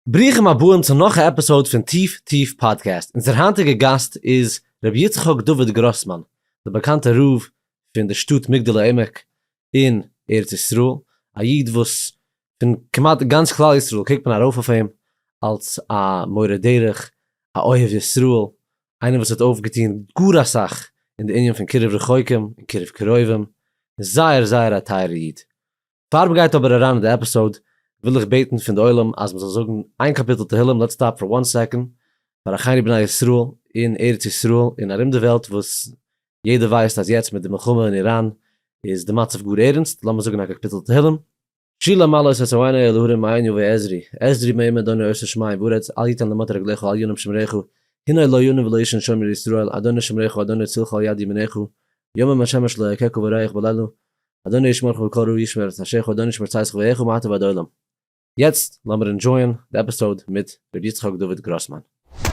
ברוכים הבאים צו נאך א עפיסאוד פון טיף טיף פאדקעסט, אונזער היינטיגע גאסט איז ר' יצחק דוד גראסמאן, דער באקאנטער רב פון דער שטאט מגדל העמק אין ארץ ישראל, א איד וואס פון כמעט גאנץ כלל ישראל קוקט מען ארויף אויף אים אלס א מורה דרך, א אוהב ישראל, איינער וואס האט אויפגעטון גאר אסאך אין די ענין פון קירוב רחוקים און קירוב קרובים, זייער זייער א טייערע איד. פאר מ'גייט אבער אריין אין די עפיסאוד וויל איך בעטן פון די עולם אז מ'זאל זאגן איין קאפיטל תהלים, לעטס סטאפ פאר וואן סעקאנד, פאר אחינו בני ישראל אין ארץ ישראל און ארום די וועלט וואס יעדער ווייסט אז יעצט מיט די מלחמה אין איראן איז די מצב גאר ערענסט, לאמיר זאגן א קאפיטל תהלים. שילה מעלות את עיני אל הרים העיינו ועזרי עזרי מעם אדוני עושה שמים וארץ אל יתן למטה רגליך אל ינום שמריך הנה לא ינום ולא ישן שומר ישראל אדוני שמריך אדוני צילך על יד ימינך יומם השמש לא יככה ורוח בלילה אדוני ישמור חלקו ר' ישמר את נפשך אדוני ישמור צאתך ואיכה מעתה ועד עולם. יעצט לאמיר אינדזשויען די עפיסאוד מיט ר' יצחק דוד גראסמאן.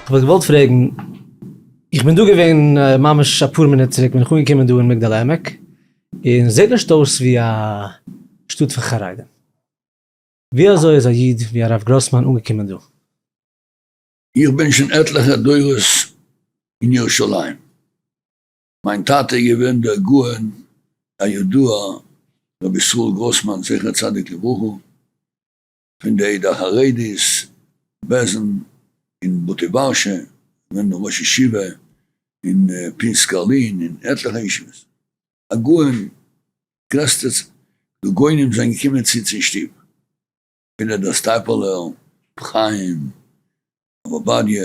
כ'וואלט געוואלט פרעגן, איך בין דא געווען ממש אפאר מינוט צוריק בין איך אנגעקומען דא אין מגדל העמק, און זעט נישט אויס ווי א שטאט פון חרדים, ווי אזוי איז א איד ווי הרב גראסמאן אנגעקומען דא? איך בין שוין עטליכע דורות אין ירושלים, מיין טאטע איז געווען דער גאון הידוע רבי ישראל גראסמאן זכר צדיק לברכה פון די עדה החרדית בעלזן און בתי ווארשע, איז געווען דער ראש ישיבה אין פינסק קארלין און עטליכע ישיבות, א גאון גרעסטע, די גאונים זענען געקומען צו צום שטוב, אפילו דער סטייפלער, ר' חיים, ר' עובדיה,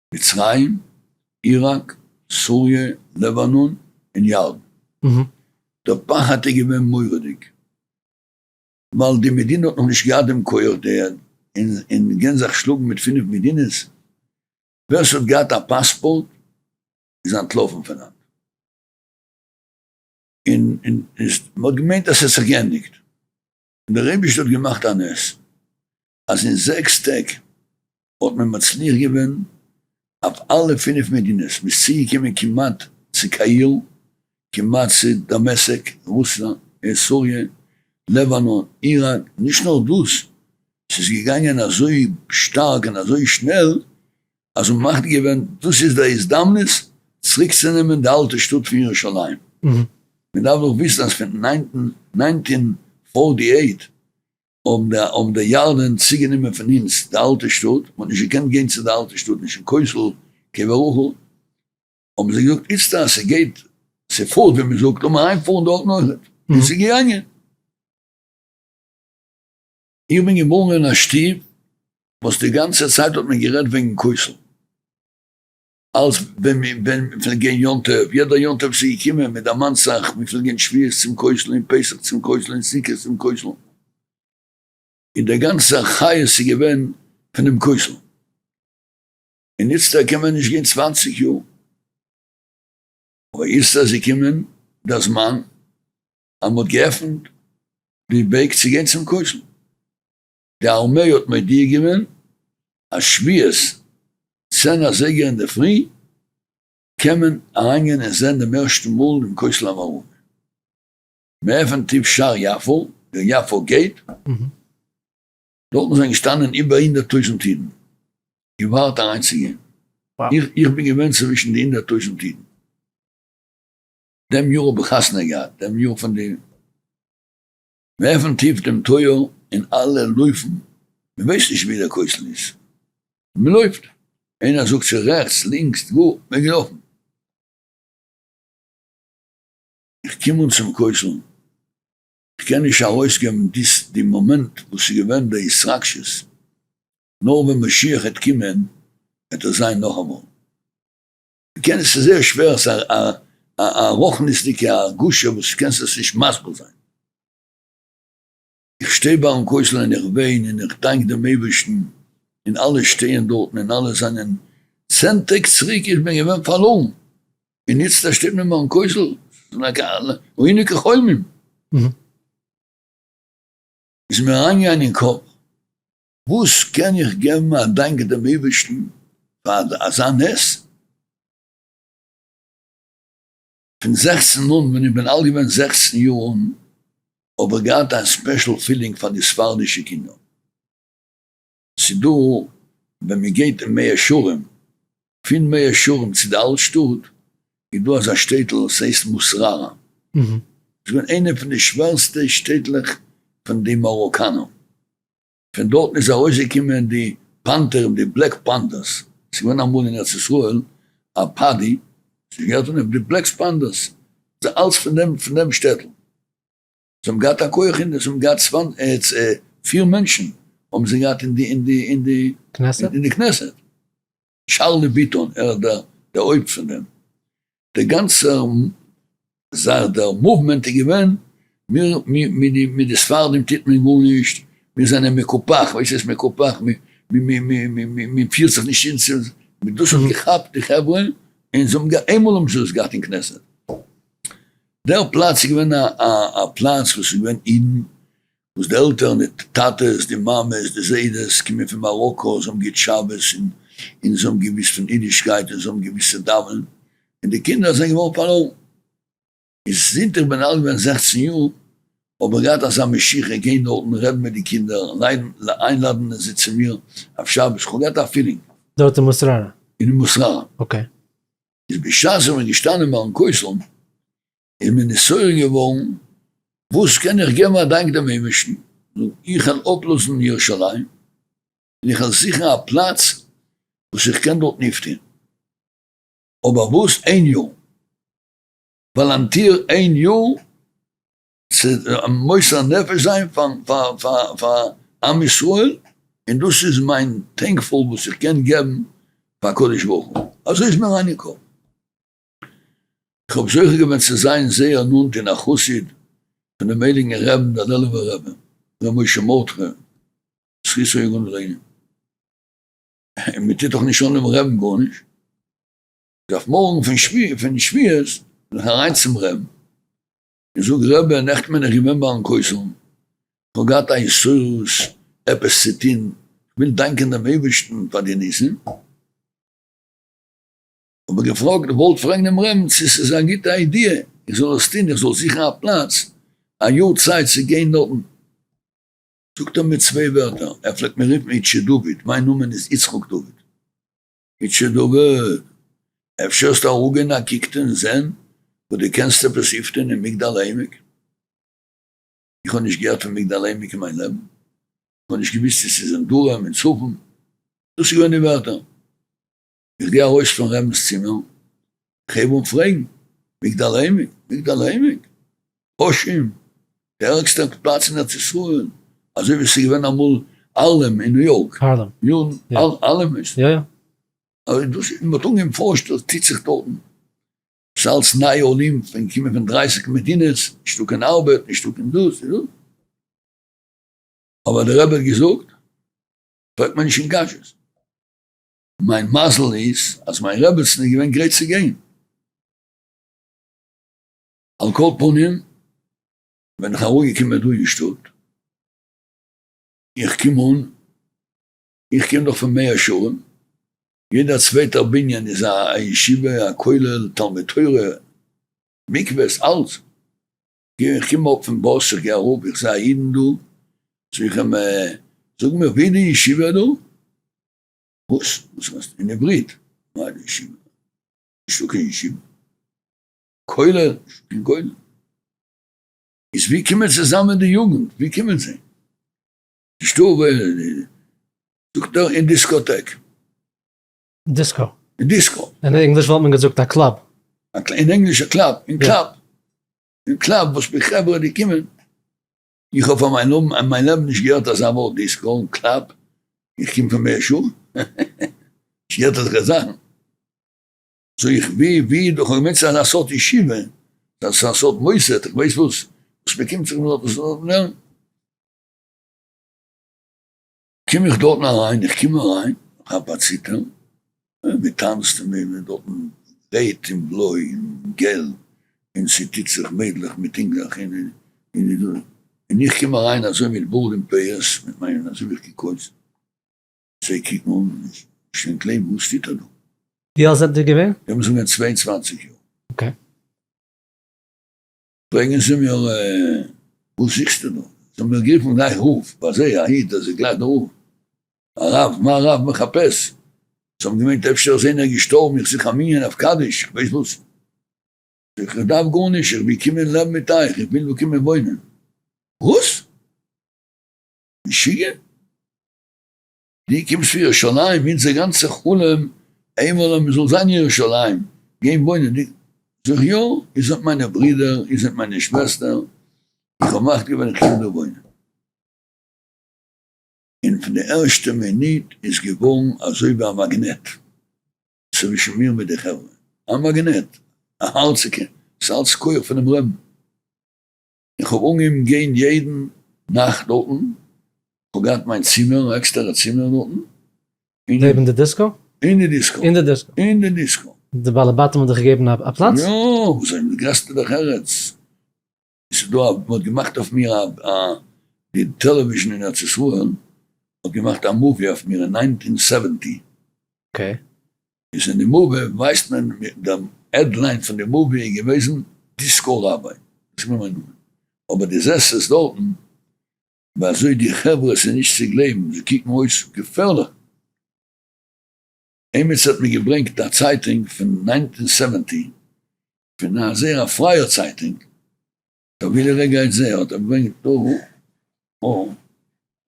מצרים, איראק, סוריע, לבנון, און ירדן. דער פחד איז געווען מורא'דיג, ווייל די מדינה האט נאכנישט געהאט דעם כח די און גען זיך שלאגן מיט פינף מדינות, ווער ס'האט געהאט א פאספארט איז אנטלאפן פון לאנד, און מ'האט געמיינט אז ס'האט זיך גענדיגט, און דער אייבישטער האט געמאכט א נס, אז אין זעקס טעג וואלט מען מצליח געווען אויף אלע פינף מדינות, מ'איז צוגעקומען כמעט צו קאיל, כמעט צו דמשק, רוסלאנד, סוריע, לבנון, איראק, נישט נאר דאס, ס'איז געגאנגען אזוי שטארק און אזוי שנעל אז מען מחליט געווען דאס איז די הזדמנות צוריקצונעמען די אלטע שטאט פון ירושלים, מען דארף דאך וויסן אז פון ניינטין פארטי עיט האבן די ירדן צוגענומען פון אונז די אלטע שטאט, מ'האט נישט געקענט גיין צו די אלטע שטאט נישט אין כותל, קבר רחל, האבן זיי געזאגט איצטער אז ס'גייט צו פוס ווי מ'זאגט לאמיר אריינפארן דארטן אויכעט, און ס'געגאנגען. איך בין געבוירן אין א שטוב וואס די גאנצע צייט האט מען גערעדט וועגן כותל. אלס ווען מיר פלעגען יום טוב, יעדער יום טוב ס'איז געקומען מיט א מאן סך, מיר פלעגען שביעות צום כוישל און פסח צום כוישל און סוכות צום כוישל, און דער גאנצע חיות איז געווען פונעם כוישל, און איצטער קען מען נישט גיין צוואַנציק יאר, אבער איצט אז געקומען דער זמן אז מ'האט געעפענט די וועג צו גיין צום כוישל. די ארמעי האט מודיע געווען אז שביעות צען אזייגער אינדערפרי קען מען אריינגיין און זען דעם ערשטן מאל דעם כותל המערבי. מען עפענט אויף שער יפו, דער יפו געיט, דארטן זענען געשטאנען איבער הונדערט טויזנט אידן געווארט אריינצוגיין, איך בין געווען צווישן די הונדערט טויזנט אידן. דעם יאר האב איך חתונה געהאט, דעם יאר פון די. מען עפנט טיף דעם טויער און אלע לויפן, מען ווייסט נישט ווי דער קויסל איז, מען לויפט, איינער זאגט זיך רעכטס לינקס וואו, מען איז געלאפן, איך קום אן צום קויסל, איך קען נישט ארויסגעבן דאס די מאמענט וואס איז געווען די התרגשות, נאר ווען משיח העט קומען וועט ער זיין נאכאמאל. כן עס איז זייער שווער עס איז א א רוחנית'דיגע הרגשה וואס קענסט עס נישט מסביר זיין. איך שטיי ביים כותל און איך וויין און איך דאנק דעם אייבערשטן און אלע שטייען דארטן און אלע זענען, צען טעג צוריק איך בין געווען פארלוירן און איצטער שטייט מען ביים כותל, היינו כחולמים. איז מיר אריינגעגאנגען אין קאפ וואס קען איך געבן א דאנק דעם אייבערשטן פאר אזא נס? פון זעכצן אן ווען איך בין אלט געווען זעכצן יאר אן האב איך געהאט א ספעשל פילינג פאר די ספרדישע קינדער, ס'דא ווען מען גייט אין מאה שערים, פון מאה שערים צו די אלט שטאט איז דא אזא שטעטל וואס הייסט מוסררה, ס'געווען איינע פון די שווערסטע שטעטלעך פון די מאראקאנער, פון דארטן איז ארויסגעקומען די פאנטערן, די בלעק פאנדערס, ס'איז געווען אמאל אין ארץ ישראל א פאדי, ס'איז געהערט אן די בלעקס פאנדערס, ס'איז אלץ פון דעם פון דעם שטעטל, זיי האבן געהאט א כח אין די, זיי האבן געהאט צוואנ אה, פיר מענטשן האבן זיי געהאט אין די, אין די, אין די, אין די כנסת. טשארלי ביטאן ער איז דער דער הויפט פון דעם, דער גאנצער זאך דער מאוומענט איז געווען מיר מיט די מיט די ספרדים טוט מען גארנישט, מיר זענען מקופח, וואס הייסט מקופח? מ מ מ מ מ מען פירט זיך נישט אונז צו, דאס האט געכאפט די חברה און זיי האבן גע איינמאל האבן זיי דאס געהאט אין כנסת, דער פלאץ איז געווען א א פלאץ וואס איז געווען אידן וואס די עלטערן, די טאטעס, די מאמעס, די זיידעס, קומען פון מאראקא, זיי האבן געהאט שבת, און זיי האבן געוואוסט פון אידישקייט, און זיי האבן געוואוסט צו דאווענען, און די קינדער זענען געווארן פארלוירן. איז זינט איך בין אלט געווען זעכצן יאר, האב איך געהאט אזא משיכה גיין דארטן, רעדן מיט די קינדער, איינלאדענען זיי צו מיר אויף שבת, איך האב געהאט א פילינג. דארט אין מוסררה? אין מוסררה. אקעי. איז בשעת איך בין געשטאנען ביי אן כותל, איך בין נשׂרר געװאָרן, װאָס קען איך געבן אַ דאַנק דעם אײבערשטן? זאָג איך, איך װעל אָפּלאָזן ירושלים און איך װעל זוכן אַ פּלאַץ, װאָס איך קען דאָרט נפֿטרן. אָבער װאָס אײן יאָר? װאָלונטיר אײן יאָר צו מוסר נפֿש זײַן פֿאַר עם ישראל, און דאָס איז מײַן טענקפֿול װאָס איך קען געבן פֿאַר קדוש-ברוך-הוא. אַזױ איז מיר אײַנגעקומען. איך האב זוכה געווען צו זיין זייער נאנט אין א חסיד פון דעם הייליגן רעבן דער לעלובער רבי ר' משה מרדכי זכותו יגן עלינו, און מען טוט דאך נישט אן דעם רעבן גארנישט, איך דארף מארגן פון שביעי פון שביעות בין איך אריין צום רעבן און זאג רעבע נעכטן בין איך געווען ביים כותל איך האב געהאט א יסורות עפעס צו טון איך וויל דאנקען דעם אייבערשטן פאר די ניסים, האב איך געפרעגט, איך וואלט פרעגן דעם רעבען צו ס'איז א גוטע איידיע איך זאל עס טון, איך זאל זוכן א פלאץ א יאר צייט צו גיין דארטן, זאגט ער מיר צוויי ווערטער, ער פלעגט מיר רופן איטשע דוד, מיין נאמען איז יצחק דוד, איטשע דוד, אפשר האסטו אראפגעגעבן א קוק טון זען וואס דו קענסט עפעס איפטון אין מגדל העמק, איך האב נישט געהערט פון מגדל העמק אין מיין לעבן, איך האב נישט געוואוסט צו ס'איז אין דרום, אין צפון, דאס איז געווען די ווערטער. איך גיי ארויס פון רבינ'ס צימער, כ'הייב אן פרעגן, מגדל העמק? מגדל העמק? פושעים? די ערגסטע פלאץ אין ארץ ישראל, אזוי ווי ס'איז געווען אמאל הארלעם אין ניו יארק, הארלעם הייסט עס, אזוי דאס איז, מ'האט אנגעהויבן פארשן וואס טוט זיך דארטן, ס'איז אלץ נייע עולים ווען קומען פון דרייסיג מדינות, נישטא קיין ארבעט, נישטא קיין דאס, אבער דער רבי האט געזאגט, פרעגט מען נישט אין קשיות. מיין מזל איז אז מיין רעבעצן איז געווען גרייט צו גיין. על כל פנים, בין איך אראפגעקומען דא אין שטאט, איך קום אן, איך קום דאך פון מאה שערים, יעדער צווייטער בנין איז א ישיבה, א כולל, תלמוד תורה, מקווה'ס, אלץ. איך קום אראפ פון באס, איך גיי אראפ, איך זע א אידן דא, זאג איך אים, זאג מיר, ווי איז די ישיבה דא? וואס? וואס מיינטסטו אין עברית? מה זה ישיבה? נישטא קיין ישיבה. כולל? נישטא קיין כולל. איז ווי קומען צוזאמען די יוגנט? ווי קומען זיי? נישטא ווער זאגט ער אין דיסקאטעק. דיסקא. אין דיסקא. אין ענגליש וואלט מען געזאגט א קלאב. אין ענגליש א קלאב. אין קלאב. אין קלאב וואס די חברה די קומען. איך האב פאר מיין נאמען אין מיין לעבן נישט געהערט אזא ווארט ווי סקרול קלאב, איך קום פון מאה שערים, נישט געהערט אזעלכע זאכן, סאו איך ווי ווי דא כ'האב געמיינט ס'איז אזא סארט ישיבה, ס'איז אזא סארט מוסד, איך ווייס וואס, וואס מ'קומט זיך דארט לערנען. קום איך דארטן אריין, איך קום אריין, כאפ א ציטער, אה, מען טאנצט און מען איז דארטן רעד און בלוי און געל, און ס'טוט זיך מיידלעך מיט אינגלעך און און און און איך קום אריין אזוי מיט בארד און פאות, מיט מיין אזוי ווי איך קוק אויס, זיי קוקן אן, נישט קענען גלייבן, וואס טוט ער דא? ווי אלט זענט איר געווען? לאמיר זאגן צוויי און צוואַנציק יאר. אקעי. פרעגן זיי מיר, וואס זוכסטו דא? זיי האבן מיר גערופן גיי רוף ביי זיי א איד אז איז גלייך דא אויף א רב, מה רב מחפש? זיי האבן געמיינט אפשר איז איינער געשטארבן, איך זוך א מנין אויף קדיש, איך ווייס וואס. זאג איך, איך דארף גארנישט, איך וויל קומען לעבן מיט אייך, איך וויל דא קומען וואוינען. וואס? משוגע? די קומסט פון ירושלים מיינט זיי גאנצע חלום איינוואנער מען זאל זיין אין ירושלים גיין וואוינען די זאג יא איר זענט מיינע ברידער איר זענט מיינע שוועסטער איך האב מאכט געווען איך קען דא וואוינען און פון די ערשטע מינוט איז געווארן אזוי ווי א מאגנעט צווישן מיר מיט די חברה א מאגנעט א הארציגע ס'אלץ כח פונעם רעבן. איך האב אנגעהויבן גיין יעדן נאכט דארטן, איך האב געהאט מיין צימער, א עקסטערע צימער דארטן. נעבן די דיסקא? אין די דיסקא. אין די דיסקא. אין די דיסקא. די בעלי בתים האבן דיך געגעבן א פלאץ? יא, וואס זיי גראסטו דיך ארץ? ס'איז דא א, מען האט געמאכט אויף מיר א, די טעלעוויזשן אין ארץ ישראל האט געמאכט א מאווי אויף מיר אין ניינטין סעווענטי. אקעי. איז אין די מאווי ווייזט מען דעם העדליין פון די מאווי איז געוועזן דיסקאו ראביי דאס איז געווען מיין נאמען אבער די זעסט עס דארטן ווי אזוי די חברה עס איז נישט צו גלייבן זיי קוקן אויס געפערליך עימיצער האט מיר געברענגט א צייטונג פון ניינטין סעווענטי פון א זייער א פרייער צייטונג אווי די רגע איז זעה האט ער געברענגט דא און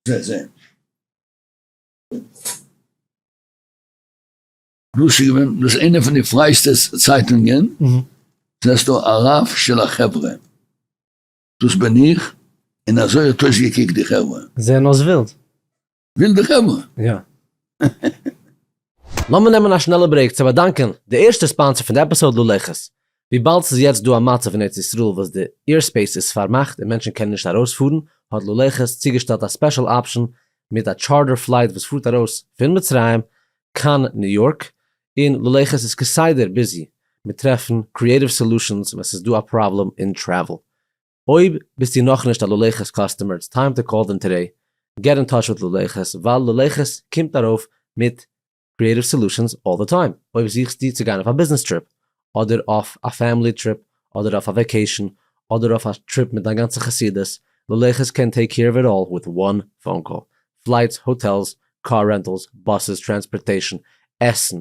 זעה זעה. דאס איז געווען דאס איינע פון די פרייסטע צייטונגען, זעסט דא א רב של החברה, דאס בין איך, און אזוי האט אויסגעקוקט די חברה. זעהן אויס ווילד. ווילדע חברה. יא. לאמיר נעמען א שנעלע ברעיק צו באדאנקען די ערשטע ספאנסער פון די עפיסאוד לולעכעס. וויבאלד ס'איז יעצט דא א מצב אין ארץ ישראל וואס די עירספעיס איז פארמאכט און מענטשן קענען נישט ארויספארן, האט לולעכעס צוגעשטעלט א ספעשל אפשן מיט א טשארטער פלייט וואס פארט ארויס פון מצרים קיין ניו יארק, און לולעכעס איז כסדר ביזי מיט טרעפן קריעטיוו סעלושענס ווען ס'איז דא א פראבלעם אין טרעוול. אויב ביסטו נאכנישט א לולעכעס קאסטומער איטס טיים טו קאל דעם טודעי, געט אין טאטש וויט לולעכעס ווייל לולעכעס קומט ארויף מיט קריעטיוו סעלושענס אלל דע טיים, אויב זוכסטו צו גיין אויף א ביזנעס טריפ, אדער אויף א פעמילי טריפ, אדער אויף א וועקעישן, אדער אויף א טריפ מיט דיין גאנצע חסידות, ללכת קען טעיק קעיר אוו איט אלל וויט וואן פאון קאל, פלייטס, האטעלס, קאר רענטעלס, באסעס, טרענספארטעישן, עסן,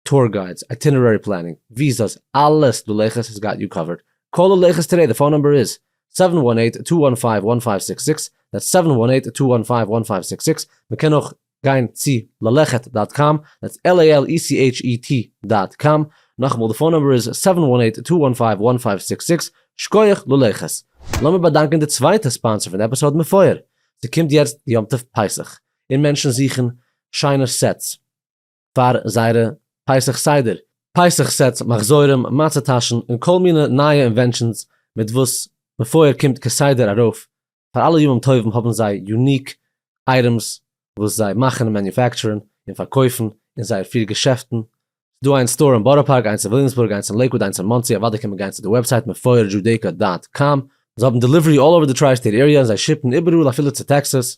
טור גיידס, אייטינערערי פלענינג, וויזאס, אלעס ללכת האס גאט יו קאווערד, קאל ללכת טודעי די פאון נומבער איז, סעווען וואן עיט טו וואן פייוו וואן פייוו סיקס סיקס, דעטס סעווען וואן עיט טו וואן פייוו וואן פייוו סיקס סיקס, מען קען אויך. גיין צו ללכת דאט קאם, דעטס על איי על אי סי עיטש אי טי דאט קאם, נאכאמאל די פאון נומבער איז סעווען וואן עיט טו וואן פייוו וואן פייוו סיקס סיקס, שקויעך ללכת. לאמיר באדאנקען די צווייטע ספאנסער פון די עפיסאד מפואר, ס'קומט יעצט יום טוב פסח, און מענטשן זוכן שיינע סעטס פאר זייערע פסח סדר, פסח סעטס, מחזורים, מצה טאשן, און כל מיני נייע אינווענשאנס מיט וואס מפואר קומט כסדר ארויף פאר אלע ימים טובים האבן זיי יוניק אייטעמס וואס זיי מאכן און מעניופעקטשורן און פארקויפן אין זייער פיר געשעפטן. ס'איז דא איין סטאר אין בארא פארק, איינס אין וויליאמסבורג, איינס אין לעיקוואד, איינס אין מאנסי, אוודאי קען מען גיין צו די וועבסייט mefoyerjudaica דאט קאם. זיי האבן דעליווערי אלל אווער די טריי סטעיט עריע און זיי שיפן איבעראל אפילו צו טעקסאס,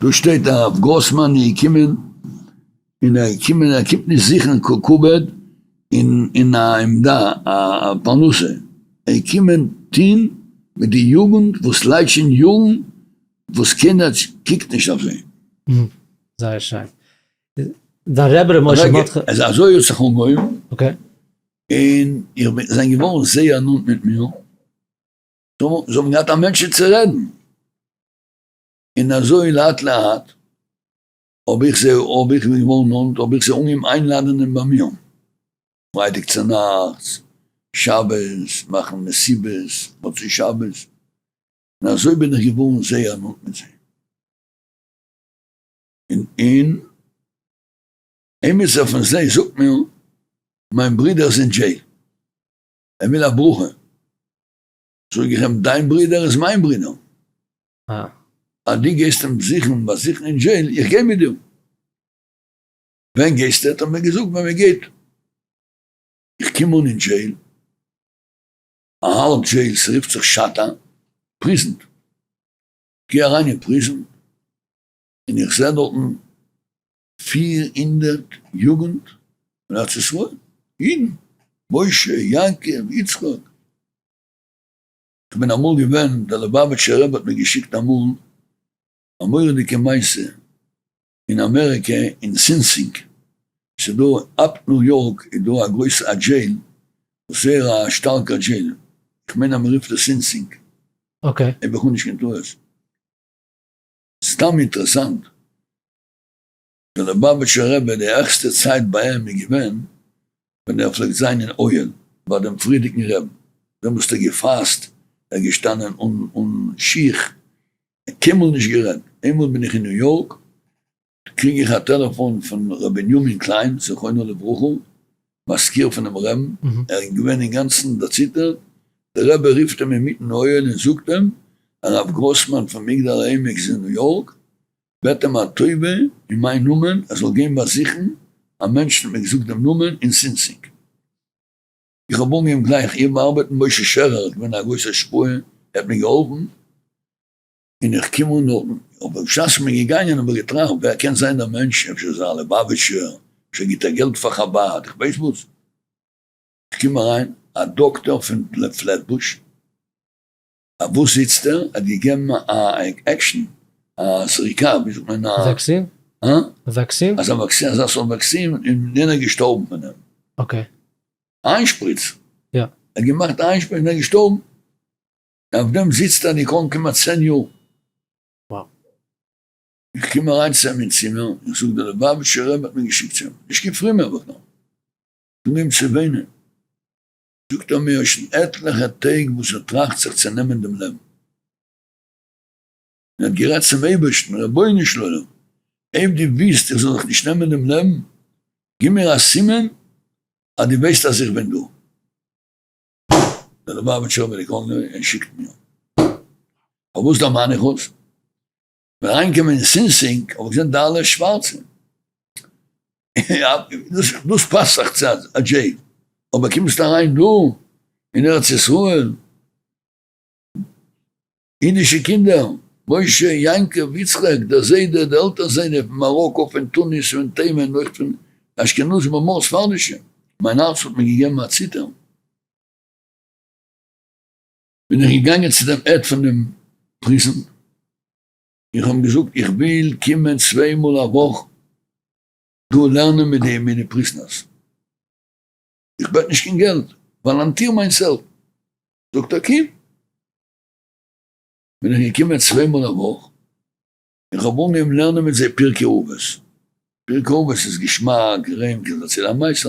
דא שטייט הרב גראסמאן איז געקומען און ער איז געקומען ער קומט נישט זוכן כבוד און און א עמדה א פרנסה ער איז געקומען טוהן מיט די יוגנט וואס ליידט שוין יארן וואס קיינער קוקט נישט אויף זיי. זייער שיין. דיין רבי ר' משה מאטכע. רגע, אז אזוי האט זיך אנגעהויבן. און איך בין זיין געווארן זייער נאנט מיט מיר. נו, זיי האבן געהאט א מענטשן צו רעדן. און אזוי לאט לאט האב איך זיי, האב איך מיר געווארן נאנט, האב איך זיי אנגעהויבן איינלאדענען ביי מיר, פרייטאג צונאכטס, שבת, מאכן מסיבות, מוצאי שבת, און אזוי בין איך געווארן זייער נאנט מיט זיי. און אן אמת'ער פון זיי זאגט מיר, מיין ברודער איז אין דזשעיל, ער וויל א ברכה, זאג איך אים, דיין ברודער איז מיין ברודער. אז דו גייסט אים זוכן באזוכן אין דזשעיל, איך גיי מיט דיר. ווען גייסטו? האט ער מיר געזאגט ווען מען גייט. איך קום אן אין דזשעיל, א הארט דזשעיל, ס'רופט זיך שאטא פריזן. גיי אריין אין פריזן, און איך זע דארטן פיר הונדערט יוגנט פון ארץ ישראל, אידן, משה, יעקב, יצחק. כ'בין אמאל געווען, דער ליובאוויטשער רבי האט מיר געשיקט אמאל א מורא'דיגע מעשה אין אמעריקע אין סינסינג, ס'איז דא אפט ניו יארק איז דא א גרויסע א דזשעיל, וואס זייער א שטארקע דזשעיל, כ'מיין אז מ'רופט עס סינסינג, אויב איך האב נישט קיין טעות, סתם אינטערעסאנט, די ליובאוויטשער רבי די העכסטע צייט ביי אים איז געווען ווען ער פלעגט זיין אין אוהל ביי דעם פריערדיגן רב, דעמאלסט האט ער געפאסט, ער איז געשטאנען אן שיך, ער האט קיינמאל נישט גערעדט, איינמאל בין איך אין ניו יארק קריג איך א טעלעפאן פון ר' בנימין קליין זכרונו לברכה מזכיר פונעם רמ א, ער איז געווען אינגאנצן דערציטערט, די רבי רופט אים אינמיטן אוהל און זאגט אים, הרב גראסמאן פון מגדל העמק איז אין ניו יארק, בעט אים א טובה אין מיין נאמען ער זאל גיין באזוכן א מענטשן מיט געזאגט דעם נאמען אין סינסיג. איך האב אנגעהויבן גלייך איר בארבעט מיט משה שערער ער איז געווען א גרויסע השפעה ער האט מיר געהאלפן און איך קום אן דארטן אבער בשעת כ'בין געגאנגען האב איך געטראכט ווער קען זיין דער מענטש אפשר איז ער א ליבאוויטשער אפשר גיט ער געלט פאר חבד איך ווייס וואס איך קום אריין א דאקטער פון פלעטבוש. א באס זיצט ער האט געגעבן א עקשן א זריקה ווי זאגט מען א. וועקסין? א? וועקסין? אזא וועקסין אזא סארט וועקסין און יענער איז געשטארבן פון דעם. אקעי. איין שפריץ. יא. ער האט געמאכט איין שפריץ און ער איז געשטארבן. אויף דעם זיצט ער און איז קראנק כמעט צען יאר. וואו. איך קום אריין צו אים אין צימער און זאג דער ליובאוויטשער רבי האט מיר געשיקט צו אים. נישט קיין פרומער בכלל. זאג אים צו וויינען. זאגט ער מיר שוין עטליכע טעג וואס ער טראכט זיך צו נעמען דעם לעבן, און האט גערעדט צום אייבערשטן, רבונו של עולם, אויב דו ווילסט איך זאל זיך נישט נעמען דעם לעבן, גיב מיר א סימן אז דו ווייסט אז איך בין דא. דער ליובאוויטשער רבי זענען געגאנגען און שיקט מיר, פארוואס דערמאן איך אונז? ווען אריינגעקומען אין סין סינג האב איך געזען די אלע שווארצע דאס פאסט זיך צו א דזשעי אבער קומסט אריין דא אין ארץ ישראל אידישע קינדער משה יעקב יצחק דער זיידע דער עלטער זיידע פון מאראקא פון טוניס פון תימן און אויך פון אשכנזים און מור ספרדישע מיין הארץ האט מיר געגעבן א ציטער. בין איך געגאנגען צו דעם עד פון דעם פריזאן, איך האב אים געזאגט איך וויל קומען צוויי מאל א וואך דא לערנען מיט די מיני פריזנערס, איך בעט נישט קיין געלט, וואלאנטיר מיין סעלף, זאגט ער קום, בין איך געקומען צוויי מאל א וואך, איך האב אנגעהויבן לערנען מיט זיי פרקי אבות, פרקי אבות איז געשמאק, גערענקען, זיי פארציילן א מעשה,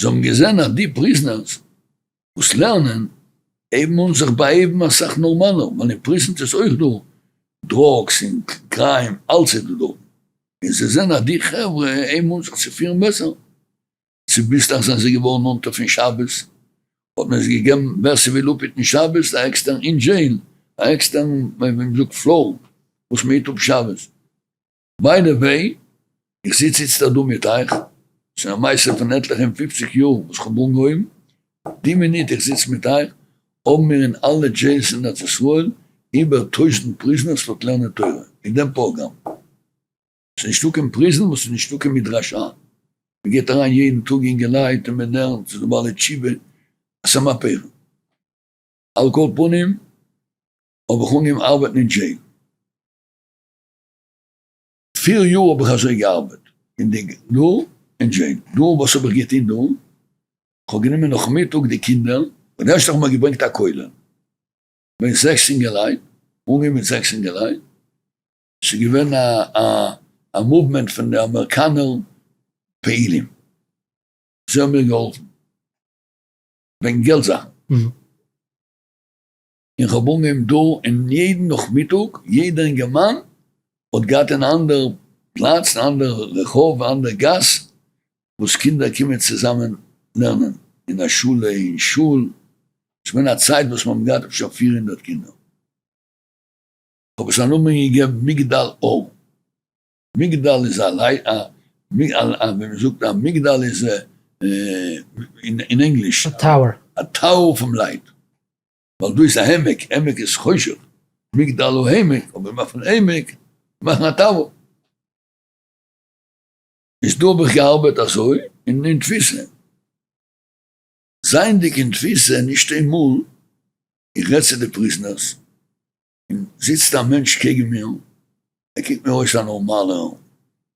זיי האבן געזען אז די פריזנערס וואס לערנען הייבן אן זיך באהעיוון אסאך נארמאלער, ווייל אין פריזנס איז אויך דא דראגס און קריים, אלץ איז דא דארטן, און זיי זען אז די חברה הייבן אן זיך צו פירן בעסער, צוביסלעך זענען זיי געווארן נאנטער פון שבת, האט מען עס געגעבן ווער ס'וויל אפהיטן שבת א עקסטערן אין דזשעיל, א עקסטערן ווי מ'זאגט פלאר וואס מ'היט אפ שבת. ביי דע וועי, איך זיץ איצט אדא מיט אייך, ס'איז א מעשה פון עטליכע און פופציג יאר וואס כ'האב אנגעהויבן, די מינוט איך זיץ מיט אייך האבן מיר אין אלע דזשעילס אין ארץ ישראל איבער טויזנט פריזנערס פארט לערנען תורה אין דעם פראגראם. ס'איז נישטא קיין פריזן וואס איז נישטא קיין מדרש א, מ'געט אריין יעדן טאג אינגעלייט און מ'לערנט, ס'איז דא בעלי תשובה, א סה מהפכה. על כל פנים האב איך אנגעהויבן ארבעטן אין דזשעיל. פיר יאר האב איך אזוי געארבעט אין די ג ד אין דזשעי ד, וואס האב איך געטוהן דא? כ'האב גענומען נאכמיטאג די קינדער, און ערשט האט מען געברענגט א כולל מיט זעקס אינגעלייט, אנגעהויבן מיט זעקס אינגעלייט, ס'איז געווען א א א מאוומענט פון די אמעריקאנער פעילים, זיי האבן מיר געהאלפן וועגן געלט זאכן. און כ'האב אנגעהויבן דא, און יעדן נאכמיטאג, יעדער אינגערמאן האט געהאט אן אנדער פלאץ, אן אנדער רחוב, אן אנדער גאס, וואס קינדער קומען צוזאמען לערנען, אין א שולע, אין שול, ס'איז געווען א צייט וואס מ'האבן געהאט אפשר פֿיר הונדערט קינדער. כ'האב עס א נאמען געגעבן מגדל אור. מגדל איז א לייט א ווי מ'זאגט א מגדל איז אין ענגליש א טאוער א טאוער פון לייט ווייל דא איז א עמק עמק איז חושך מגדל הוא עמק אבער אויפן עמק מאכן א טאוער איז דא האב איך געארבעט אזוי און אין תפיסה זייענדיג אין תפיסה נישט איינמאל איך רעד צו די פריזנערס. און זיצט א מענטש קעגן מיר, ער קוקט מיר אויס א נארמאלער,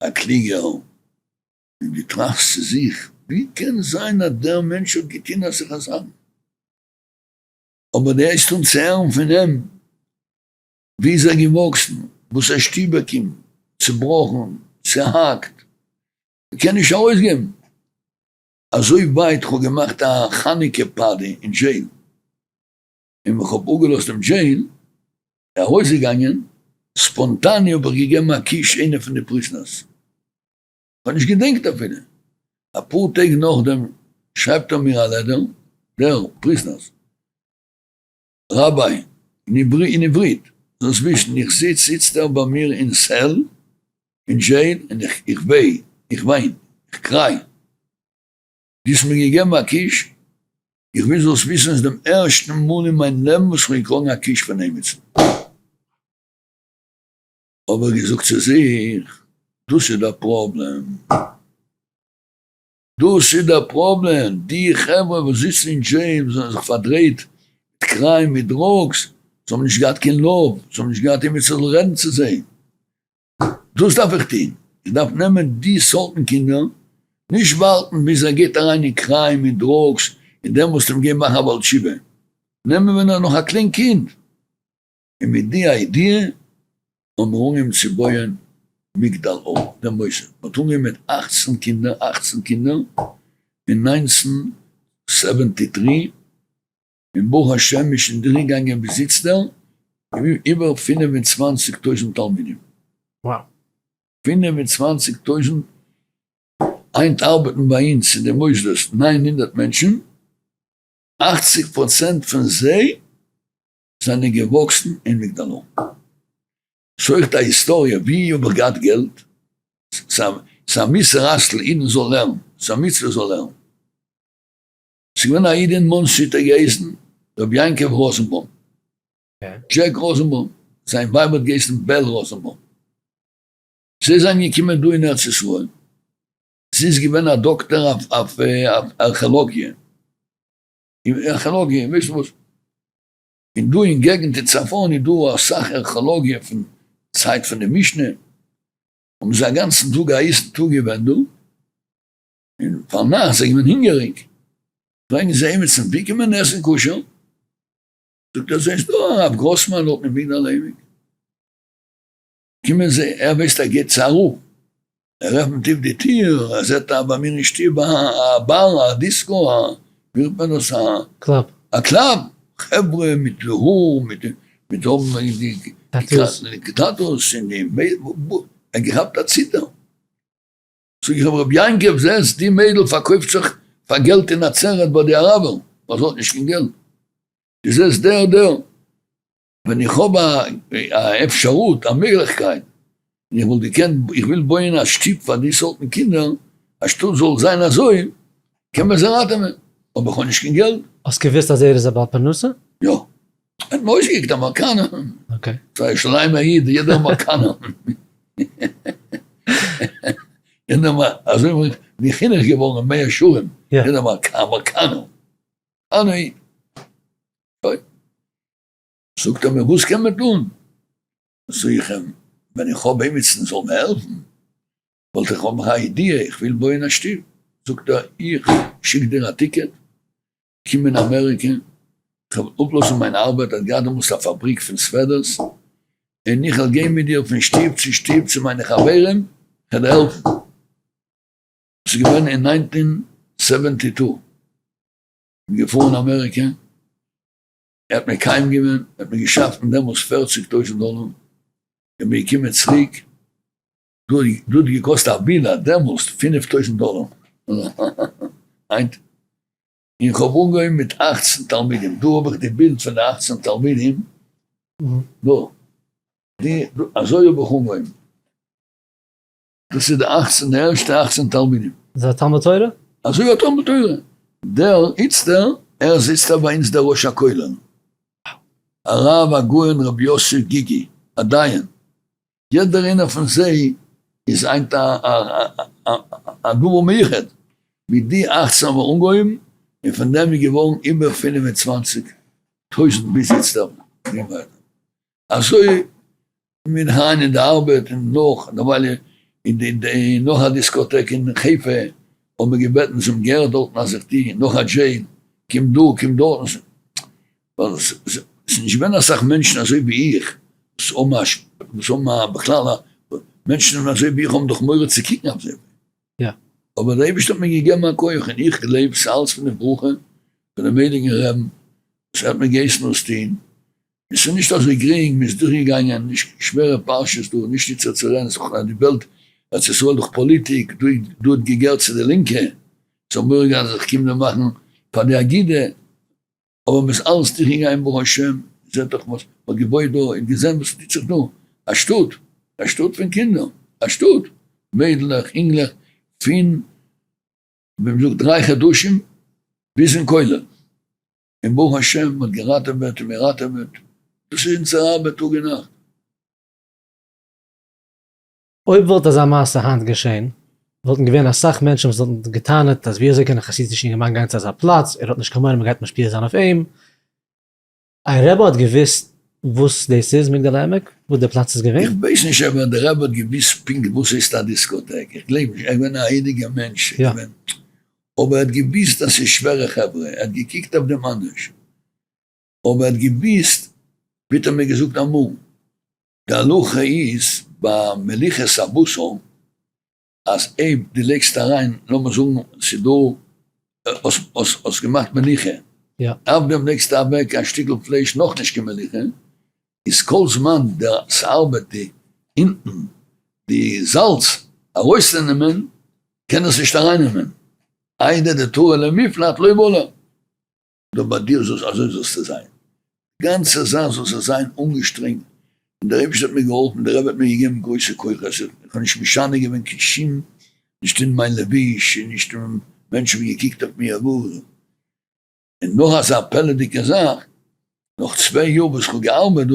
א קלוגער, און דו טראכסט צו זיך, ווי קען זיין אז דער מענטש האט געטון אזעלכע זאכן? אבער דו הייסט אן צו הערן פון אים ווי איז ער געוואקסן, וואס א שטובער קינד, צעבראכן, צעהאקט, מען קען נישט ארויסגעבן, אזוי ווייט כ'האב געמאכט א חנוכה פארטי אין דזשעיל, און ווען כ'האב אפגעלאזט דעם דזשעיל און ארויסגעגאנגען, ספאנטאני האב איך געגעבן א קיש איינע פון די פריזנערס. כ'האב נישט געדענקט אפילו. אפאר טעג נאכדעם שרייבט ער מיר א לעדער, דער, פריזנערס, ראביי, אין עברית, זאלסט וויסן איך זיץ איצטערט ביי מיר אין סעל, אין דזשעיל, און איך בעי, איך וויין, איך קריי. דו האסט מיר געגעבן א קיש, איך וויל זאלסט וויסן עס איז דעם ערשטן מאל אין מיין לעבן וואס כ'בין געקראגן א קיש פון עימיצן. האב איך געזאגט צו זיך, דאס איז דער פראבלעם, דאס איז דער פראבלעם, די חברה וואס זיצן אין דזשעיל וואס זענען זיך פארדרייט מיט קריים מיט דראגס, זיי האבן נישט געהאט קיין לאוו, זיי האבן נישט געהאט איינער צו זאל רעדן צו זיי, דאס דארף איך טוהן, איך דארף נעמען די סארטן קינדער, נישט ווארטן ביז ער גייט אריין אין קריים אין דראגס און דעמאלס אים גיין מאכן א בעל תשובה, נעמען ווען ער איז נאך א קליין קינד, און מיט די איידיע האבן מיר אנגעהויבן צו בויען מגדל אור, דעם מוסד, מען האט אנגעהויבן מיט אַכצן קינדער, אַכצן קינדער, אין נײַנצן סעווענטי טרי, און ברוך השם איז שוין דורכגעגאנגען ביז איצטער געווען איבער פֿינף און צוואַנציק טויזנט תלמידים. וואו. פֿינף און צוואַנציק טויזנט, היינט ארבעטן ביי אונז אין די מוסדות נײַן הונדערט מענטשן, אַכציק פראצענט פון זיי זענען געוואקסן אין מגדלון. ס'איז אויכט א היסטאריע ווי האב איך געהאט געלט, ס'איז א מוסר השכל אידן זאלן לערנען, ס'איז א מצוה זאל לערנען. ס'איז געווען א איד אין מאנסי האט ער געהייסן ר' יעקב ראזענבוים, דזשעק ראזענבוים, זיין ווייב האט געהייסן בעל ראזענבוים, זיי זענען געקומען דא אין ארץ ישראל, זי איז געווען א דאקטער אויף ארכעלאגיע, ארכעלאגיע, ווייסט וואס, און דא אין געגענט אין צפון איז דא אסאך ארכעלאגיע פון צייט פון די משנה, האבן זיי א גאנצן טאג א הייסן טאג געווען דא, און פארנאכטס איז ער געווען הונגעריג, ברענגען זיי עמיצן ווי קען מען עסן כשר? זאגט ער זיי עס דא הרב גראסמאן דארט אין מגדל עמק, קומען זיי ער ווייסט ער גייט צו א רב, ער עפענט אויף די טיר ער זעט א ביי מיר אין שטוב א באר א דיסקא א ווי רופט מען דאס א קלאב, א קלאב, חברה מיט לאהור מיט מיט האבן די טאטוס און די מעיל ער האט געכאפט א ציטער. זאג איך אים רבי יעקב זעסט די מיידל פארקויפט זיך פאר געלט אין עצרת ביי די אראבער ווייל זי האט נישט קיין געלט, די זעסט דער דער, ווען איך האב א אפשרות א מעגליכקייט און איך וואלט געקענט איך וויל בויען א שטוב פאר די סארטן קינדער א שטוב זאל זיין אזוי קען מען זיי ראטעווען אבער איך האב נישט קיין געלט. האסט געוויסט אז ער איז א בעל פרנסה? יא. האט מיר אויסגעקוקט א מארקאנע האן. אקעי. ס'איז א ירושלימ'ער איד, יעדער האט מארקאנע האן. יעדער מ. אזוי בין איך מחונך געווארן אין מאה שערים. יא. יעדער מארק א מארקאנע האן. אנע איד. אקעי. זאגט ער מיר, וואס קען מען טון? זאג איך אים, ווען איך האב עימיצן זאל מיר העלפן, וואלט איך האב איך א איידיע, איך וויל בויען א שטוב. זאגט ער, איך שיק דיר א טיקעט, קום אין אמעריקע, כ'וועל אפלאזן מיין ארבייט אז גייט דעמאלסט א פאבריק פון סוועדערס, און איך וועל גיין מיט דיר פון שטוב צו שטוב צו מיינע חברים כדי העלפן. דאס איז געווען אין ניינטין סעווענטי טו, כ'בין געפארן אין אמעריקע, ער האט מקיים געווען, מ'האט מיר געשאפט דעמאלסט פערציג טויזנט דאלער, כ'בין געקומען צוריק, דודי, דא האט געקאסט א ווילא דעמאלסט פֿינף טויזנט דאלער, היינט? און כ'האב אנגעהויבן מיט אַכצן תלמידים, דא האב איך די בילד פון די אַכצן תלמידים, דא, די, אזוי האב איך אנגעהויבן, דאס איז די אַכצן, די ערשטע אַכצן תלמידים. איז ער א תלמוד תורה? אזוי א תלמוד תורה, דער איצטער, ער זיצט אויף ביי אונז דער ראש הכולל, הרב הגאון רבי יוסף גיגי, א דיין, יעדער איינער פון זיי איז היינט א דבר מיוחד, מיט די אכצן האבן מיר אנגעהויבן און פון דעם איז געווארן איבער פֿינף און צוואַנציק טויזנט ביז איצטערט, אזוי מין היינט אין די ארבעט און נאך, דערווייל אין נאך א דיסקאטעק אין חיפה האבן מיר געבעטן, זיי האבן געהערט דארטן אז איך טוה נאך א דזשעי, קום דא קום דארט, ווייל עס איז נישט געווען אסאך מענטשן אזוי ווי איך וואס האבן א ש וואס האבן א בכלל א מענטשן אזוי ווי איך האבן דאך מורא צו קוקן אויף זיי. אבער דער אייבערשטער האט מיר געגעבן א כח און איך גלייב ס'איז אלץ פון די ברכה פון דעם הייליגן רעבן וואס ער האט מיר געהייסן דאס טון. און ס'איז נישט אזוי גרינג, מ'איז דורכגעגאנגען נישט שווערע פרשות דא, נישט איצטער צו רעדן ס'איז דאך די וועלט ארץ ישראל דאך פאליטיק, דא האט געגעהערט צו די לינקע, זיי האבן מורא געהאט אז איך קום דא מאכן פאר די אגידה, אבער ביז אלעס טוט זיך גיין ברוך השם, זעט דאך וואס מ'האט געבויט דא, און געזען וואס ס'טוט זיך דא, א שטאט, א שטאט פון קינדער, א שטאט, מיידלעך, אינגלעך, פון ווי מ'זאגט דריי חדשים ביזן כולל, און ברוך השם מ'האט געראטעוועט און מ'ראטעוועט, דאס איז אונזער ארבעט טאג און נאכט. אויב וואלט אזא מעשה היינט געשען, וואלטן געווען אסאך מענטשן וואס וואלטן גע'טענה'ט אז ווי אזוי קען א חסידיש יונגערמאן גיין צו אזא פלאץ, ער האט נישט קיין מורא מ'גייט משפיע זיין אויף אים. איין רבי האט געוואוסט וואס דאס איז מגדל העמק? וואס די פלאץ איז געווען? איך ווייס נישט אויב די רבי האט געוואוסט פונקט וואס הייסט א דיסקאטעק, איך גלייב נישט, ער איז געווען א הייליגע מענטש, ער איז געווען, אבער ער האט געוואוסט אז ס'איז שווערע חברה, ער האט געקוקט אויף דעם אנדערש, אבער ער האט געוואוסט, ווי האט ער מיר געזאגט אמאל, די הלכה איז ביי מליחת הבשר אז אויב די לייגסט אריין לאמער זאגן ס'דא האסט האסט געמאכט מליחה אויף דעם לייגסטו אוועק א שטיקל פלייש נאך נישט קיין מליחה איז כל זמן די ס'ארבעט די אינטן די זאלץ ארויסצונעמען קען עס נישט אריינעמען איידער די תורה למפלט לא יבולע. נאר ביי דיר זאל אזוי זאלסטו זיין, די גאנצע זאך זאל זיך זיין אנגעשטרענגט, און דער אייבערשטער האט מיר געהאלפן, דער רבי האט מיר געגעבן גרויסע כוחות, איך האב נישט משנה געווען קיין שום, נישט אין מיין לבוש, און נישט ווען מענטשן האבן געקוקט אויף מיר, און נאך אזא פלא'דיגע זאך, נאך צוויי יאר וואס איך האב געארבעט דא,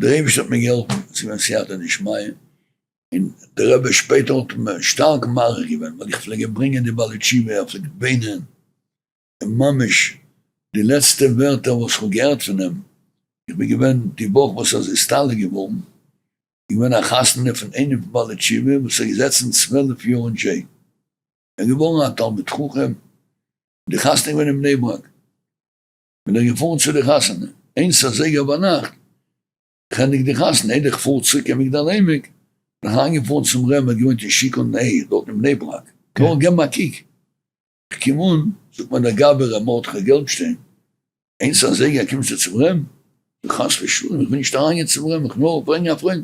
דער אייבערשטער האט מיר געהאלפן צו ווערן סייעתא דשמיא, און דער רבי שפעטער האט מיר שטארק מאריך געווען, ווייל איך פלעג איבערברענגען די בעלי תשובה, ער פלעגט וויינען, און ממש די לעצטע ווערטער וואס איך האב געהערט פון אים, איך בין געווען די וואך וואס ער איז נסתלק געווארן, איז געווען א חתונה פון איינעם פון בעלי תשובה וואס איז געזעצן צוועלף יאר אין דזשעיל, ער איז געווארן א תלמיד חכם, און די חתונה איז געווען אין בני ברק. בין איך געפארן צו די חתונה, איינס אזייגער ביינאכט, גענדיגט די חתונה, איידער איך פאר צוריק קיין מגדל העמק, בין איך אריינגעפארן צום ר', מען האט געוואוינט אין שיכון ה', דארט אין בני ברק, נאר געבן א קוק, איך קום אן, זאגט מיר דער גבאי ר' מרדכי געלבשטיין, איינס אזייגער קומסטו צום ר'? זאג איך חס ושלום, איך וויל נישט אריינגיין צום ר', איך וויל נאר פרעגן א פרעג,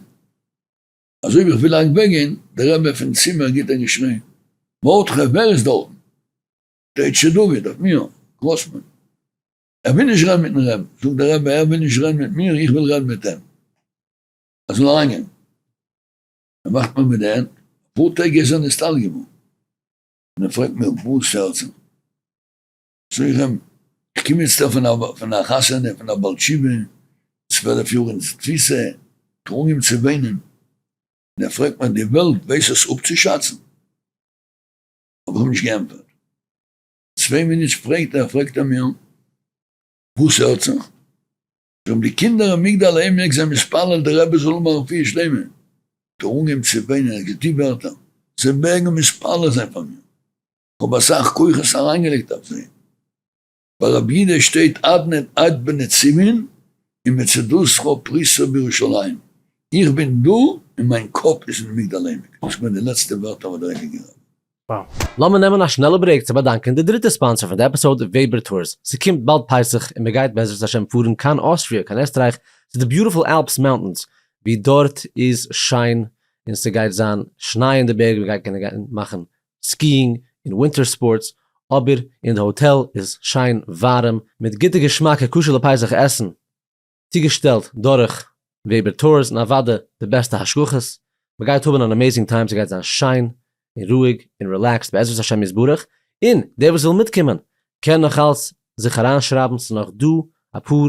אזוי ווי איך וויל אוועקגיין, דער ר' עפענט צימער גיט א געשריי, מרדכי ווער איז דארטן? טייטש איז דא גוט אויף מיר, גראסמאן. ער וויל נישט רעדן מיטן רב, זאגט דער רבי ער וויל נישט רעדן מיט מיר איך וויל רעדן מיט אים ער זאל אריינגיין. ער מאכט מיר מיט די הענט, אפאר טעג איז ער נסתלק געווארן, און ער פרעגט מיר וואס שערט זיך? זאג איך אים איך קום איצטער פון א פון א חתונה פון א בעל תשובה, צוועלף יאר אין תפיסה, טראג אים צו וויינען, און ער פרעגט מיר די וועלט ווייסט עס אפצושאצן? כ'האב אים נישט געענטפערט. צוויי מינוט שפרעגט ער פרעגט ער מיר וואס הערט זיך? זאגן די קינדער אין מגדל העמק זענען מתפלל די רבי זאל האבן א רפואה שלימה. האט ער אנגעהויבן צו וויינען ער האט געזאגט די ווערטער, זיי מעגן מתפלל זיין פאר מיר, כ'האב אסאך כוחות אריינגעלייגט אויף זיי. ביי רבי יהודה שטייט אדנן עד בנציבין אין מצדות ר' פריסא בירושלים, איך בין דא און מיין קאפ איז אין מגדל העמק, דאס איז געווען די לעצטע ווערטער פון דער הייליגער רבי. לאמיר נעמען א שנעלע ברעיק צו באדאנקען די דריטע ספאנסער פון די עפיסאוד, וועבער טורס. ס'קומט באלד פסח און מען גייט בעזרת השם פארן קיין אוסטריא, קיין עסטרייך, צו די ביוטיפול אלפס מאונטענס, ווי דארט איז שיין און ס'גייט זיין שניי אין די בערג, מען גייט קענען גיין מאכן סקיאינג און ווינטער ספארטס, אבער אין די האטעל איז שיין ווארעם מיט גוטע געשמאקע כשר לפסח עסן צוגעשטעלט דורך וועבער טאורס און אוודאי די בעסטע השגחות, מען גייט האבן אן אמעזינג טיים ס'גייט זיין שיין און רואיג און רילעקסד בעזרת השם יתברך, און דער וואס וויל מיטקומען קען נאכאלס זיך אריינשרייבן ס'נאך דא אפאר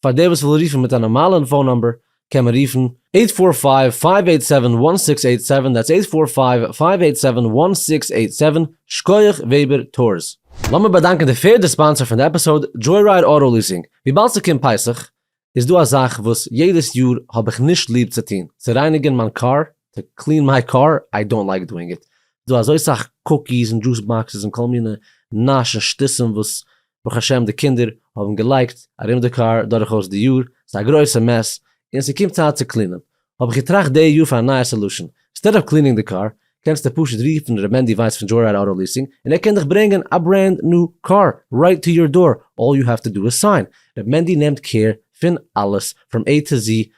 פאר דער וואס וויל רופן מיט א נארמאלען פאון נאמבער קען מען רופן אייט פאר פייוו פייוו אייט סעווען וואן סיקס אייט סעווען דעטס אייט פאר פייוו פייוו אייט סעווען וואן סיקס אייט סעווען שקויעך וועבער טארס. לאמיר באדאנקען די פערדע ספאנסער פון די עפיסאוד, דזשויראיד אוטו ליסינג. וויבאלד ס'קומט פסח, איז דא א זאך וואס יעדעס יאר האב איך נישט ליב צו טון, צו רייניגען מיין קאר, טו קלין מיי קאר, איי דאנט לייק דואינג איט. ס'דא אזוי סאך קוקיס און דזשוס באקסעס און כל מיני נאש און שטותים וואס ברוך השם די קינדער האבן געלייגט ארום די קאר דורכאויס די יאר, ס'איז א גרויסע מעס, און ס'קומט צייט צו קלינען, האב איך געטראכט די יאר פאר א נייע סעלושען, אינסטעד אוו קלינינג די קאר, קענסטו פשוט רופן ר' מענדי ווייס פון דזשויראד אוטא ליסינג, און ער קען דיך ברענגען א ברענד ניו קאר רייט טו יור דאר, אלל יו העוו טו דו איז סיין, ר' מענדי נעמט קעיר פון אלעס פראם עי טו זי,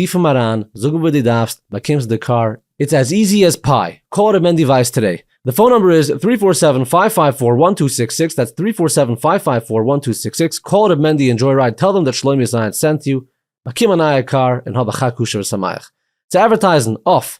רוף אים אריין, זאג אים וואס דו דארפסט, באקומסט די קאר, איטס עז איזי עז פּיי, קאל ר' מענדי ווייס טודעי, די פאון נומבער איז טרי פאר סעווען פייוו פייוו פאר וואן טו סיקס סיקס, דעטס טרי פאר סעווען פייוו פייוו פאר וואן טו סיקס סיקס, קאל ר' מענדי און דזשוי רייד טעל דעם דעט שלומי זיינס סענט יו, באקום א נייע קאר און האב א חג כשר ושמח. צו אדווערטייזן, אויף!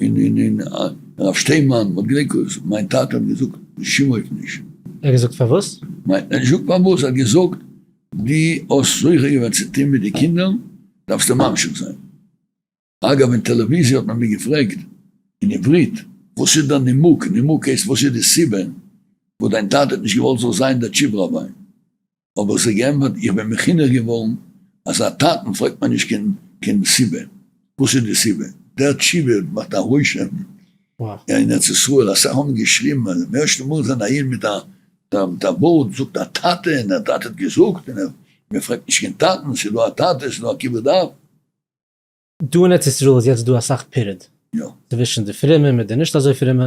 און און און הרב שטיינמאן האט געזאגט וואס מיין טאטע האט געזאגט בשום אופן נישט. ער האט געזאגט פארוואס? ניין, ער האט נישט געזאגט פארוואס, ער האט געזאגט דו האסט זוכה געווען צו טון מיט די קינדער, דארפסטו ממשיך זיין. אגב אין טעלעוויזיע האט מען מיר געפרעגט אין עברית וואס איז דער נימוק, נימוק הייסט וואס איז די סיבה וואס דיין טאטע האט נישט געוואלט זאלסט זיין דער טשיף ראביי, אבער ס'איז געענטפערט, איך בין מחונך געווארן אז א טאטן פרעגט מען נישט קיין קיין סיבה, וואס איז די סיבה? דער תשובה מאכט א רושם אין ארץ ישראל, אסאך האבן געשריבן אז דעם ערשטן מאל זענען א איד מיט א מיט א בארד זאגט א טאטע און דער טאטע האט געזאגט, און מען פרעגט נישט קיין טאטן, ס'איז דא א טאטע, ס'איז דא א כיבוד אב. דא אין ארץ ישראל איז יעצט דא אסאך פירוד צווישן די פרומע מיט די נישט אזוי פרומע,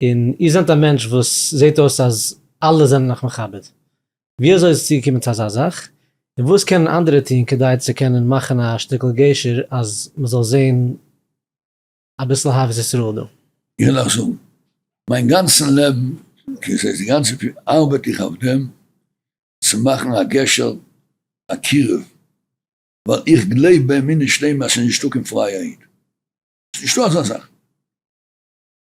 און איר זענט א מענטש וואס זעט אויס אז אלע זענען אייך מכבד, ווי אזוי איז עס צוגעקומען צו אזא זאך, און וואס קענען אנדערע טון כדי צו קענען מאכן א שטיקל גשר אז מען זאל זען אביסל אהבת ישראל דא? איך וועל אייך זאגן, מיין גאנצע לעבן, כדי זיי די גאנצע פיר, ארבעט איך אויף דעם צו מאכן א גשר, א קירוב, ווייל איך גלייב באמונה שלימה אז ס'איז נישטא קיין פרייע איד, ס'איז נישטא אזא זאך,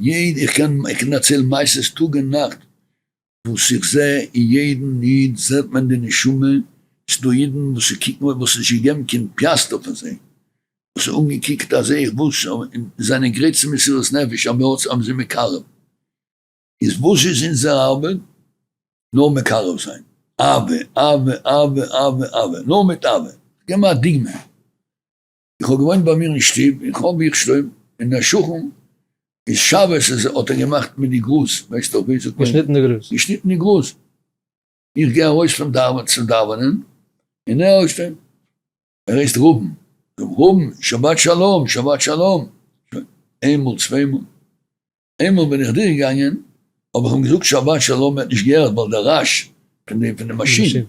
יעד איך קען איך קען דערציילן מעשות טאג און נאכט וואס איך זע אין יעדן איד זעט מען די נשמה, ס'איז דא אידן וואס ס'קוקן אויס וואס ס'נישט געגעבן קיין פיאסטער פון זיי, וואס ס'איז אנגעקוקט אז איך וואס, און זענען גרייט צו מסירות נפש אז מ'האט זיי האבן זיי מקרב, איז וואס איז אונזער ארבעט? נאר מקרב זיין. אהבה, אהבה, אהבה, אהבה, אהבה, נאר מיט אהבה. כ'געב מיר א דוגמא. איך האב געוואוינט ביי מיר אין שטוב, און כ'האב ווי איך שטויב, און דער שכן איז שבת איז האט ער געמאכט מיט די גראז, ווייסט דאך ווי ס'קומט. געשניטן די גראז. געשניטן די גראז. איך גיי ארויס פון דאווענען צו דאווענען, און ער אויפשטיין. ער הייסט ראובן, ר' ראובן, שבת שלום, שבת שלום, שוין, איין מאל, צוויי מאל, איין מאל בין איך דורך געגאנגען, האב איך אים געזאגט שבת שלום, ער האט נישט געהערט ווייל די רעש פון די פון די מאשין,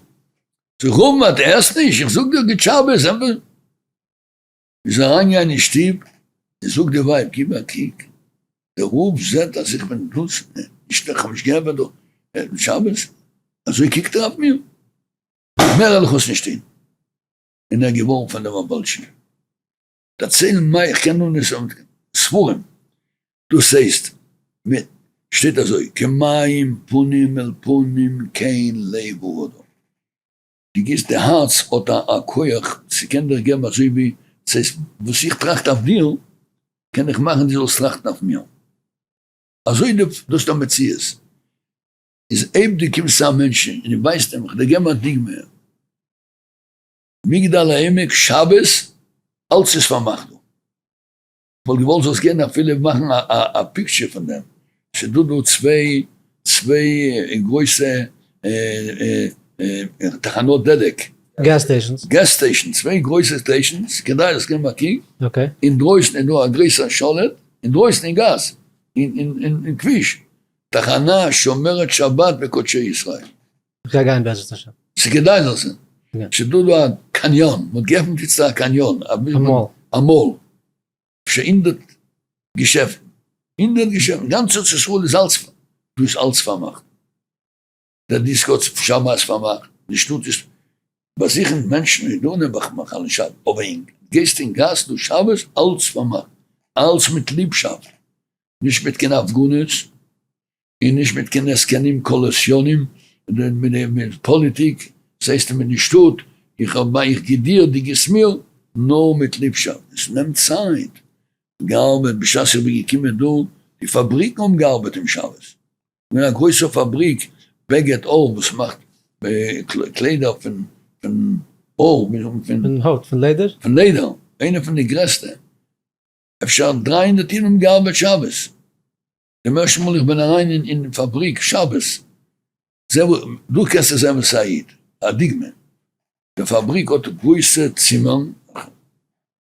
זאגט ראובן אז די הערסט נישט, איך זאג דיר גוט שבת, ענפער, איז אריין געגאנגען אין שטוב, און זאגט די ווייב גיב מיר א קוק, דער רב זעט אז איך בין דאס, נישט איך האב נישט געענפערט דאך, ער האט שבת, אזוי קוקט ער אויף מיר? מער העל איך עס נישט טוהן. און ער געווארן פון דעם אבאלטשין. דערצייל מיר איך קען אן עס אנטוהן. ספרים. דאס הייסט מיט שטייט אזוי כמים פנים אל פנים כן לב האדם. די גיסט די הארץ האט א א כח צו קען דיך געבן אזוי ווי סאיז וואס איך טראכט אויף דיר קען איך מאכן די זאלסט טראכטן אויף מיר. אזוי דאס איז דער מציאות. איז אויב דו קומסט צו א מענטש און דו ווייסט אים, כ'וועל געבן א דוגמא, מגדל העמק שבת, אלץ איז פארמאכט דא, כ'וואלט געוואלט זאלסט גיין אפילו מאכן א פיקטשער פון דעם, ס'דא דא צוויי צוויי גרויסע תחנות דלק. געז סטעישאנס. געז סטעישאנס, צוויי גרויסע סטעישאנס, כדאי זאלסט גיין באקוקן. אקעי. אינדרויסן איז דא א גרויסע שלט, אינדרויסן אין גאס, אין כביש, תחנה שומרת שבת בקודשי ישראל. כ'גיי גיין בעזרת השם. ס'כדאי זאלסט זיין. יא. ס'דא דא א קאניאן, מ'האט געעפנט איצטער א קאניאן. א מאל. א מאל. אפשר הונדערט געשעפטן. הונדערט געשעפטן. גאנץ ארץ ישראל איז אלץ, דא איז אלץ פארמאכט. דער דיסק האט זיך שם מאס פארמאכט, די שטאט איז באזיכענט מענטשן און דא נעבעך מאכאן אין שב אבער אין געסט אין גאס דא שבת אלץ פארמאכט, אלץ מיט ליבשאפט, נישט מיט קיין הפגנות און נישט מיט קיין עסקנים קאלוסיאנים מיט פאליטיק, זעסטו מיט די שטאט, איך האב מיין איך גיב דיר די גיבסט מיר, נאר מיט ליבשאפט, עס נעמט צייט, געארבעט בשעת איך בין געקומען דא, די פאבריקן האבן געארבעט אום שבת. און א גרויסע פאבריק בעגעט אור וואס מאכט קליידער פון אור, פון הויט, פון לעדער, פון לעדער, איינע פון די גרעסטע, אפשר דרײַ הונדערט אידן האבן געארבעט שבת, דעם ערשטן מאל איך בין אריין אין פאבריק שבת, דא קענסטו זען וואס איז א איד, א דוגמא, די פאבריק האט גרויסע צימערן,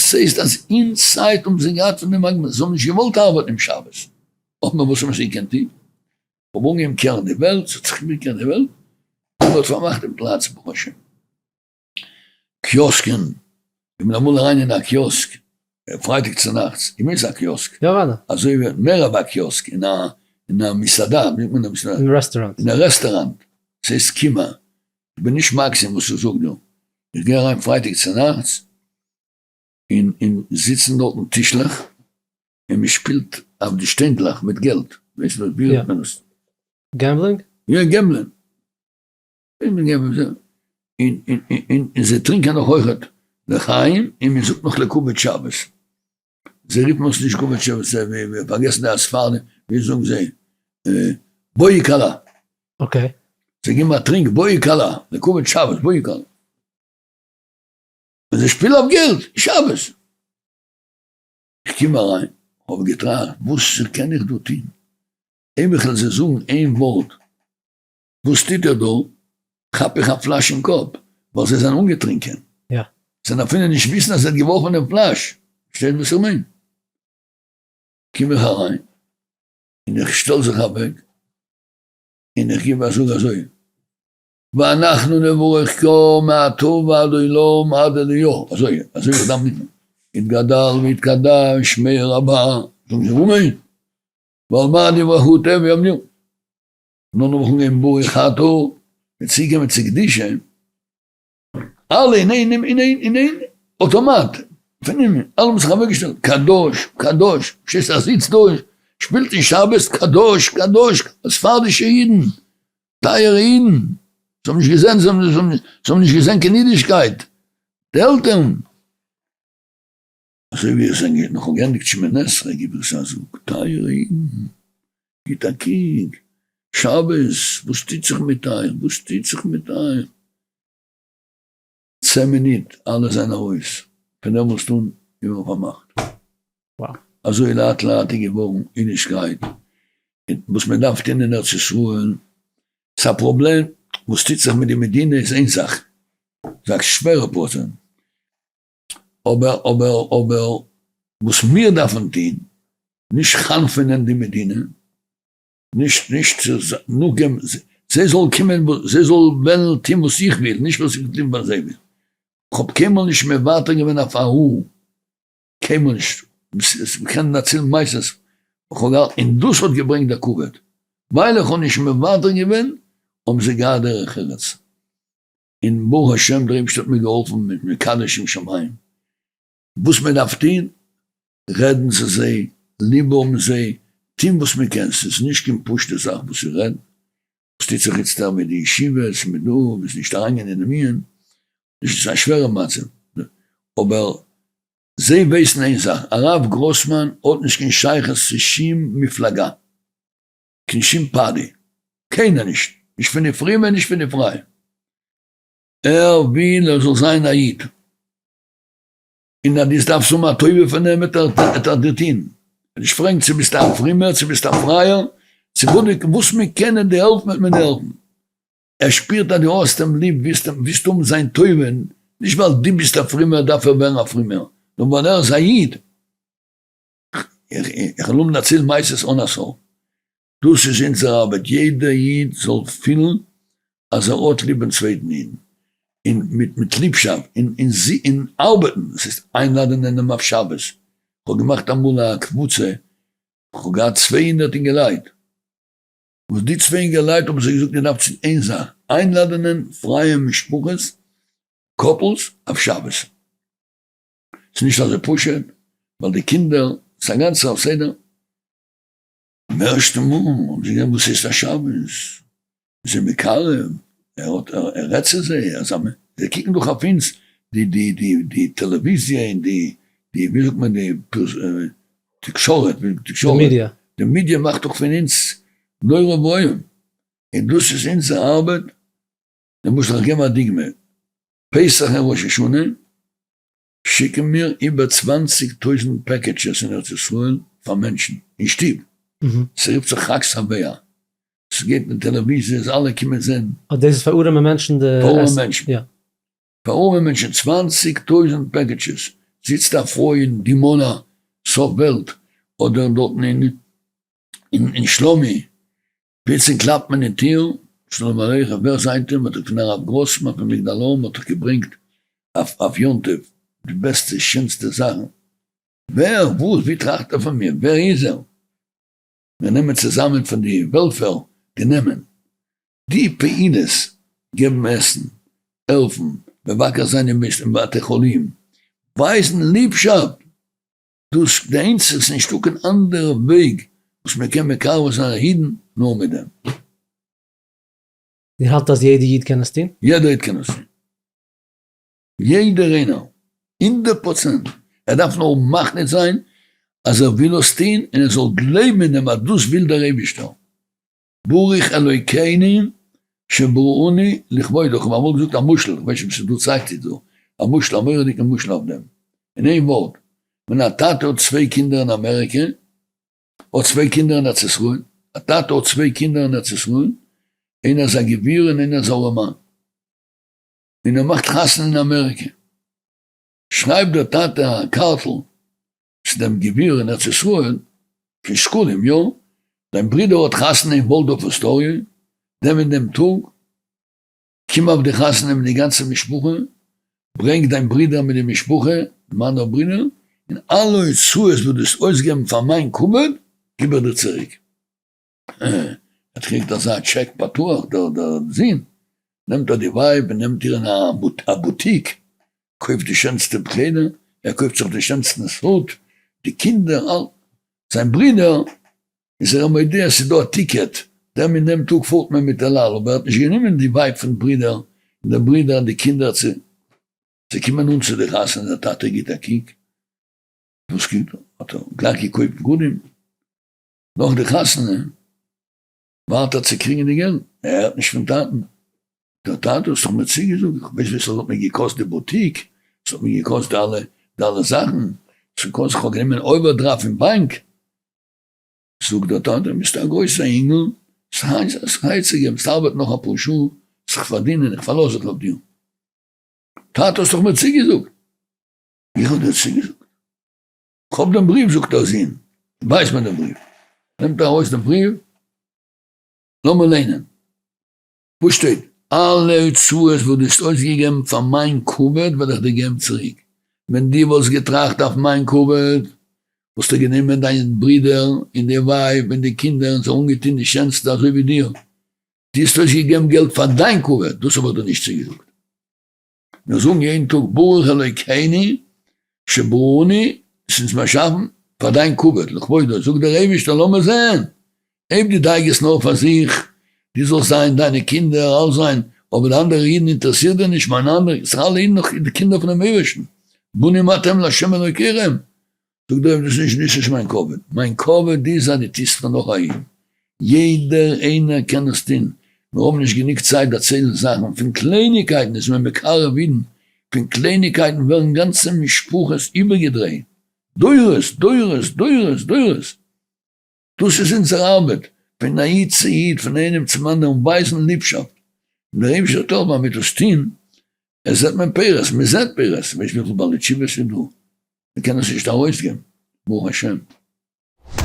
עס הייסט אז אין צייט האבן זיי געהאט פון דעם אגמון זיי האבן נישט געוואלט ארבעטן שבת, אויב נאר וואס האבן זיי געקענט טוהן? האב אנגעהויבן קערן די וועלט, עס האט זיך אומגעקערט די וועלט, און מען האט פארמאכט דעם פלאץ ברוך השם. קיאסקען, איך בין אמאל אריין אין א קיאסק פרייטאג צונאכטס, געווען ס'איז א קיאסק, אזוי ווי מער אויף א קיאסק, אין א מסעדה, ווי זאגט מען אין אמעריק, אין א רעסטוראנט, ס'הייסט קימא, כ'בין נישט מגזים וואס איך זאג דא, איך גיי אריין פרייטאג צונאכטס און און זיצן דארטן טישלעך און מען שפילט אויף די שטענדלעך מיט געלט, ווייסט ווי רופט מען עס? געמבלינג? יא געמבלען, און און און זיי טרינקען נאך אויכעט לחיים און מען זאגט נאך לעיקוואד שבת, זיי רופן אונז נישט גובעטשוב, סע מיר מיר פארגעסן די הספדים, ווי זאגן זיי, בואי כלה. אקעי. זיי געבן א טרינק בואי כלה, זיי קומען שבת בואי כלה. און זיי שפילן אויף געלט, שבת. איך קום אריין, כ'האב געטראכט וואס קען איך דא טון? אייביג כ'על זיי זאגן איין ווארט. וואס טוט ער דא? כאפ איך א פלאש אין קאפ, ווייל זיי זענען אנגעטרינקען. זיי אפילו נישט וויסן אז ער האט געווארפן דעם פלאש. פארשטייסט וואס איך מיין? קום איך אריין, און איך שטעל זיך אוועק, און איך גיב א זאג אזוי, ואנחנו נברך כה מעתה ועד עולם עד הלויה, אזוי, אזוי ווי איך דארף מיטן, יתגדל ויתקדש שמו רבא, זאגן זיי אמן, ועל מה דברכותיהם יאמנו. נאר נאכן גיין באי חטא און צוגעקומען צו קדושה, אלע ענינים אין איין אין איין אויטאמאט, אלעם זיך אוועקגעשטעלט, קדוש קדוש פארשטייסט אז איצט דא איז שפילט אין שבת קדוש קדוש ספרדישע אידן, טייערע אידן, זיי האבן נישט געזען זיי האבן נישט געזען קיין אידישקייט, די עלטערן. אזוי ווי עס זענען נאכן גענדיגט שמונה עשרה גיב איך זיי א זאג, טייערע אידן, גיט א קוק, שבת, וואס טוט זיך מיט אייך, וואס טוט זיך מיט אייך? צען מינוט, אלע זענען ארויס, פון דעמאלסט אן איז מען פארמאכט. Wow. אזוי לאט לאט איז געווארן אידישקייט, און וואס מען דארף טון אין ארץ ישראל, ס'איז א פראבלעם, וואס טוט זיך מיט די מדינה איז איין זאך, ס'איז א שווערע פראבלעם, אבער אבער אבער וואס מיר דארפן טוהן, נישט חנפ'ענען די מדינה, נישט נישט נאכגעבן, זיי זאלן קומען, זיי זאלן וועלן טוהן וואס איך וויל, נישט וואס איך וויל טוהן וואס זיי ווילן. כ'האב קיינמאל נישט מוותר געווען אויף א האר, קיינמאל נישט, מ'קען דערציילן מעשות וואו כ'האב געהאלטן, און דאס האט געברענגט די כבוד, ווייל איך האב נישט מוותר געווען, האבן זיי געהאט דרך ארץ. און ברוך השם דער אייבערשטער האט מיר געהאלפן מיט מקדש שם שמים, וואס מען דארף טון, רעדן צו זיי, ליב האבן זיי, טון וואס מען קען, ס'איז נישט קיין פשוטע זאך וואס איך רעד, וואס טוט זיך איצטערט מיט די ישיבות, מיט דא, מען איז נישט אריינגעגאנגען אין דעם ענין, עס איז א שווערע מצב, אבער זיי ווייסן איין זאך, הרב גראסמאן האט נישט קיין שייכות צו שום מפלגה, קיין שום פאני, קיינער נישט, נישט פון די פרומע און נישט פון די פרייע, ער וויל ער זאל זיין א איד, און אז דו דארפסט האבן א טובה פון אים וועט ער דיר טון, נישט פרעגן צו ביסט א פרומער צו ביסט א פרייער, צו וואס מיר קענען דיר העלפן וועט מען דיר העלפן, ער שפירט אז דו האסט אים ליב ווילסט האבן זיין טובה, נישט ווייל דו ביסט א פרומער דארף ער ווערן א פרומער, נאר ווייל ער איז א איד. איך לומד נאציס מעשות אן א סוף, דאס איז אונזער ארבעט, יעדע איד זאל פילן אז ער האט ליב דעם צווייטן אידן, און מיט מיט ליבשאפט און און ארבעטן, עס איז איינלאדענד אינעם אויף שבת, איך האב געמאכט אמאל א קבוצה, איך האב געהאט צוויי הונדערט אינגעלייט, וואס די צוויי אינגעלייט האבן זיי געזאגט איר דארפט טון איין זאך, איינלאדענען פרייע משפחות, קאפלס, אויף שבת. ס'איז נישט אזוי פשוט, ווייל די קינדער, ס'איז א גאנצע ליל סדר. דעם ערשטן מאל האבן זיי געהערט וואס הייסט א שבת, זיי מקרב, ער האט, ער רעדט צו זיי, אז א מ, זיי קוקן דאך אויף אונז, די די די די טעלעוויזיע און די די ווי זאגט מען די פרס א תקשורת, ווי זאגט תקשורת, די מידיא, די מידיא מאכט דאך פון אונז נורא ואיום, און דאס איז אונזער ארבעט, למשל איך גיב א דוגמא, פסח און ראש השנה שיקן מיר איבער צוואנציג טויזנט פעקעדזשעס אין ארץ ישראל פאר מענטשן אין שטוב, ס'רופט זיך חג שביה, ס'גייט אין טעלעוויזיעס אלע קומען זען. אה דאס איז פאר ארעמע מענטשן די עסן. פאר ארעמע מענטשן, יא. פאר ארעמע מענטשן צוואנציג טויזנט פעקעדזשעס, זיצט א פרוי אין דימונה סוף וועלט אדער דארטן אין שלומי פלוצלינג קלאפט מען אין טיר, שלום עליך אויף ווער זייט איר? מען האט פון הרב גראסמאן פון מגדל אור, מען האט דאך געברענגט אויף יום טוב די בעסטע שענסטע זאכן, ווער? וואס? ווי טראכט ער פון מיר? ווער איז ער? מיר נעמען צוזאמען פון די וועלפעיר די נעמען, די פעילות, געבן עסן, העלפן, מבקר זיין אין בתי חולים, ווייזן ליבשאפט, דאס איז די איינציגסטע, ס'איז נישטא קיין אנדערע וועג וואס מען קען מקרב זיין א אידן נאר מיט דעם. איר האלט אז יעדע איד קען עס טון? יעדע איד קען עס טון. יעדער איינער. הונדערט פראצענט. ער דארף נאר מחליט זיין אז ער וויל עס טון, און ער זאל גלייבן אין דעם אז דאס וויל דער אייבישטער. ברוך אלוקינו שבראני לכבודו, כ'האב אמאל געזאגט א משל, כ'ווייס נישט אויב ס'איז דא צייט צו דא, א משל, א מורא'דיגע משל אויף דעם, אין איין ווארט, ווען א טאטע האט צוויי קינדער אין אמעריקע, האט צוויי קינדער אין ארץ ישראל, א טאטע האט צוויי קינדער אין ארץ ישראל, איינער איז א גביר און איינער איז א ארעמאן, און ער מאכט חתונה אין אמעריקע, שרייבט דער טאטע א קארטל צו דעם גביר אין ארץ ישראל פון שקלים, יא, דיין ברודער האט חתונה אין וואלדארף אסטוריא דעם און דעם טאג, קום אויף די חתונה מיט די גאנצע משפחה, ברענג דיין ברודער מיט די משפחה, מיינער ברודער, און אלע הוצאות וואס דו וועסט אויסגעבן פאר מיין כבוד גיב איך דיר צוריק. ער קריגט אזא טשעק בטוח דער דער זון נעמט אט די ווייב און נעמט איר אין א א בוטיק קויפט די שענסטע בגדים ער קויפט זיך די שענסטן סוט די קינדער אלע זיין ברודער איז ער מודיע ס'איז דא א טיקעט דעם און דעם טאג פארט מען מיט אל על אבער ער האט נישט גענומען די ווייב פון ברודער און די ברודער און די קינדער צו זיי קומען אן צו די חתונה דער טאטע גיט א קוק וואס קומט האט ער גלייך געקויפט בגדים. נאך די חתונה ווארט ער צו קריגן די געלט, ער הערט נישט פון טאטן, דער טאטע האסט דאך מיר צוגעזאגט, איך ווייס וויפיל עס האט מיר געקאסט די בוטיק, עס האט מיר געקאסט די אלע די אלע זאכן, עס האט געקאסט, איך האב גענומען אויבערדרייוו אין באנק, זאגט דער טאטע, ביסט א גרויסע אינגל, עס הייסט עס הייסט צו געבן, עס ארבעט נאך אפאר שעה, זיך פארדינען, איך פארלאז זיך אויף דיר, טאטע האסט דאך מיר צוגעזאגט, איך האב דיר צוגעזאגט? כ'האב דעם בריוו זאגט דער זון, ווייזט מיר דעם בריוו, נעמט ער ארויס דעם בריוו, לאמיר ליינען, וואס שטייט, אלע הוצאות וואס דו האסט אויסגעגעבן פאר מיין כבוד וועל איך דיר געבן צוריק, ווען דו וואלסט געטראכט אויף מיין כבוד, וואלסטו גענומען דיין ברודער און די ווייב און די קינדער און זיי אנגעטון די שענסטע אזוי ווי דיר, דו האסט אויסגעגעבן געלט פאר דיין כבוד, דאס האב איך דיר נישט צוגעזאגט. מיר זאגן יעדן טאג ברוך אלוקינו שבראני, האסט אונז באשאפן פאר דיין כבוד, לכבודו, זאגט דער אייבערשטער לאמיר זען אויב דו דאגה'סט נאר פאר זיך, דו זאלסט זיין, דיינע קינדער, אלס זיין, אבער די אנדערע אידן אינטערעסירט דיר נישט, מיינע אנדערע, ס'איז אלע אידן נאך די קינדער פונעם אייבערשטן, בנים אתם לה' אלוקיכם, זאג דו עפעס נישט דאס נישט מיין כבוד, מיין כבוד איז אז דו טוסט פאר נאך א איד, יעדער איינער קען דאס טון, מיר האבן נישט גענוג צייט דערציילן זאכן, פון קלייניגקייטן איז מען מקרב אידן, פון קלייניגקייטן ווערן גאנצע משפחות איבערגעדרייט, דורות דורות דורות דורות. דאס איז אונזער ארבעט, פון א איד צו איד, פון איינעם צום אנדערן, ווייזן ליבשאפט, און דער אייבערשטער האט אויף ווען מיר דאס טון, עס זעט מען פירות, מען זעט פירות, ווייסט וויפיל בעלי תשובות איז דא, מען קען עס נישט ארויסגעבן, ברוך השם.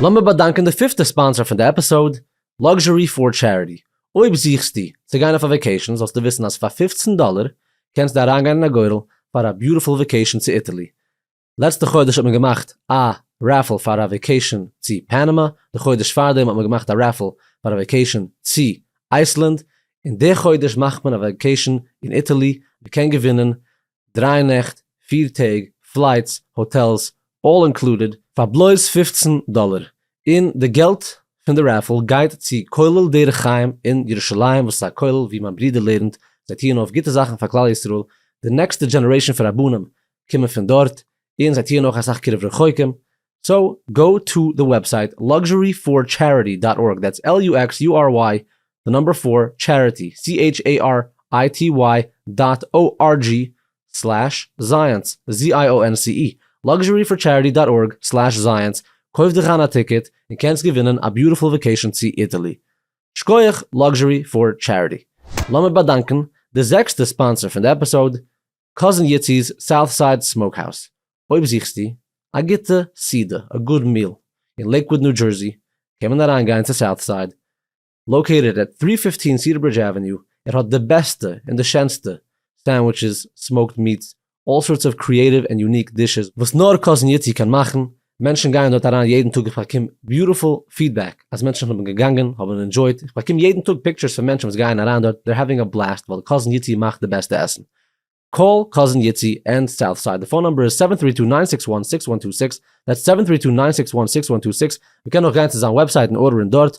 לאמיר באדאנקען די פיפטע ספאנסער פון די עפיסאוד, Luxury for Charity, אויב זוכסטו צו גיין אויף א וואקעישן זאלסטו וויסן אז פאר פֿופֿצן דאלער קענסטו אריינגיין אין א גורל פאר א ביוטיפול וואקעישן צו איטעלי, לעצטע חודש האט מען געמאכט א רעפעל פאר א וועקעישאן צו פאנאמא, די חודש פארדעם האט מען געמאכט א רעפעל פאר א וועקעישאן צו אייסלענד, און די חודש מאכט מען א וועקעישאן אין איטעלי, מען קען געווינען דריי נעכט, פיר טעג, פלייטס, האטעלס, אלל אינקלודעד, פאר בלויז פֿופֿצן דאלער, און די געלט פון די רעפעל גייט צו כולל דרך חיים אין ירושלים וואס איז א כולל ווי מיין ברודער לערנט, זיי טוען אויף גוטע זאכן פאר כלל ישראל, די נעקסטע דזשענערעישאן פון רבנים קומען פון דארט, און זיי טוען אויך אסאך קירוב רחוקים, סאו גאו טו די וועבסייט לאקזשורי פאר טשעריטי דאט ארג, דעטס LUXURY די נומבער פאר טשעריטי, CHARITY דאט ORG סלעש זייענס, ZIONCE, לאקזשורי פאר טשעריטי דאט ארג סלעש זייענס, קויף דיך איין א טיקעט און קענסט געווינען א ביוטיפול וואקעישן צו איטעלי. שקויעך לאקזשורי פאר טשעריטי. לאמיר באדאנקן די זעקסטע ספאנסער פון די עפיסאוד, קאזין יצי'ס סאוט סייד סמאוק האוז, אויב זוכסטו א גוטע סעודה, א גוד מיל, אין לעיקוואוד ניו דזשערסי, קען מען אריינגיין צו סאוט סייד, לאקעיטעד עט טרי פיפטין סידער ברידזש עוועניו, ער האט די בעסטע און די שענסטע סענדוויטשעס, סמאוקד מיטס, אלל סארטס אוו קריעטיוו ענד יוניק דישעס וואס נאר קאזין יצי קען מאכן, מענטשן גייען דארט אריין יעדן טאג איך באקום ביוטעפול פידבעק אז מענטשן האבן געגאנגען האבן ענדשויט איך באקום יעדן טאג פיקטשערס פון מענטשן וואס גייען אריין דארט דער העווינג א בלעסט ווייל קאזין איצי מאכט די בעסטע עסן קאל קאזין איצי אין סאוט סייד די פאון נאמבער איז סעווען טרי טו ניין סיקס וואן סיקס וואן טו סיקס דעטס סעווען טרי טו ניין סיקס וואן סיקס וואן טו סיקס מ'קען אויך גיין צו זיין וועבסייט און ארדערן דארט.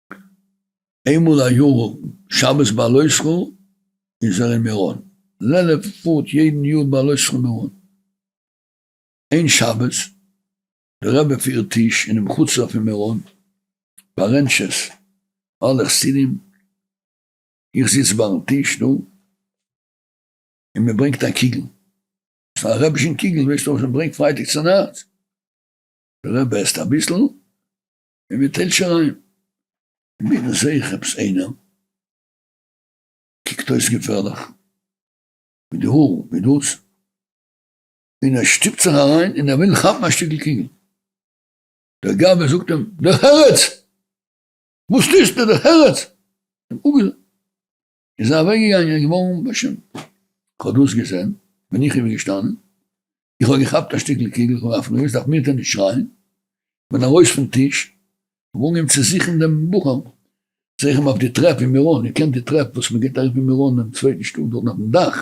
איינמאל א יאר שבת ביי עלוי שכול איז ער אין מירון, לעלוב פארט יעדן יאר ביי עלוי שכול מירון, איין שבת די רבי פירט טיש אינעם חצר פון מירון בארענטשעס אלע חסידים, איך זיץ ביים טיש דא און מען ברענגט א קוגל, ס'איז א רעבישן קוגל, ווייסט אויך וואס מען ברענגט פרייטאג צונאכטס, די רבי עסט אביסל און מען טיילט שוין איין. מילא זעה איך עפעס איינער קוקט אויס געפערליך מיט די האר ווי דאס, און ער שטופט זיך אריין און ער וויל כאפן א שטיקל קוגל, דער גבאי זאגט אים, דער הערץ! וואס טוסטו דער הערץ? דעם קוגל איז ער אוועק געגאנגען און געווארן בעשמ. כ'האב דאס געזען, בין איך איבער געשטאנען, איך האב געכאפט א שטיקל קוגל, כ'האב אויף געוואוסט דארף מילתא נישט שרייען, כ'בין ארויס פון טיש, כ'האב אנגעהויבן צו זוכן דעם בחור, זעה איך אים אויף די טרעפ אין מירון, איר קענט די טרעפ וואס מ'גייט ארויף אין מירון דעם צווייטן שטאק דארטן אויפן דאך,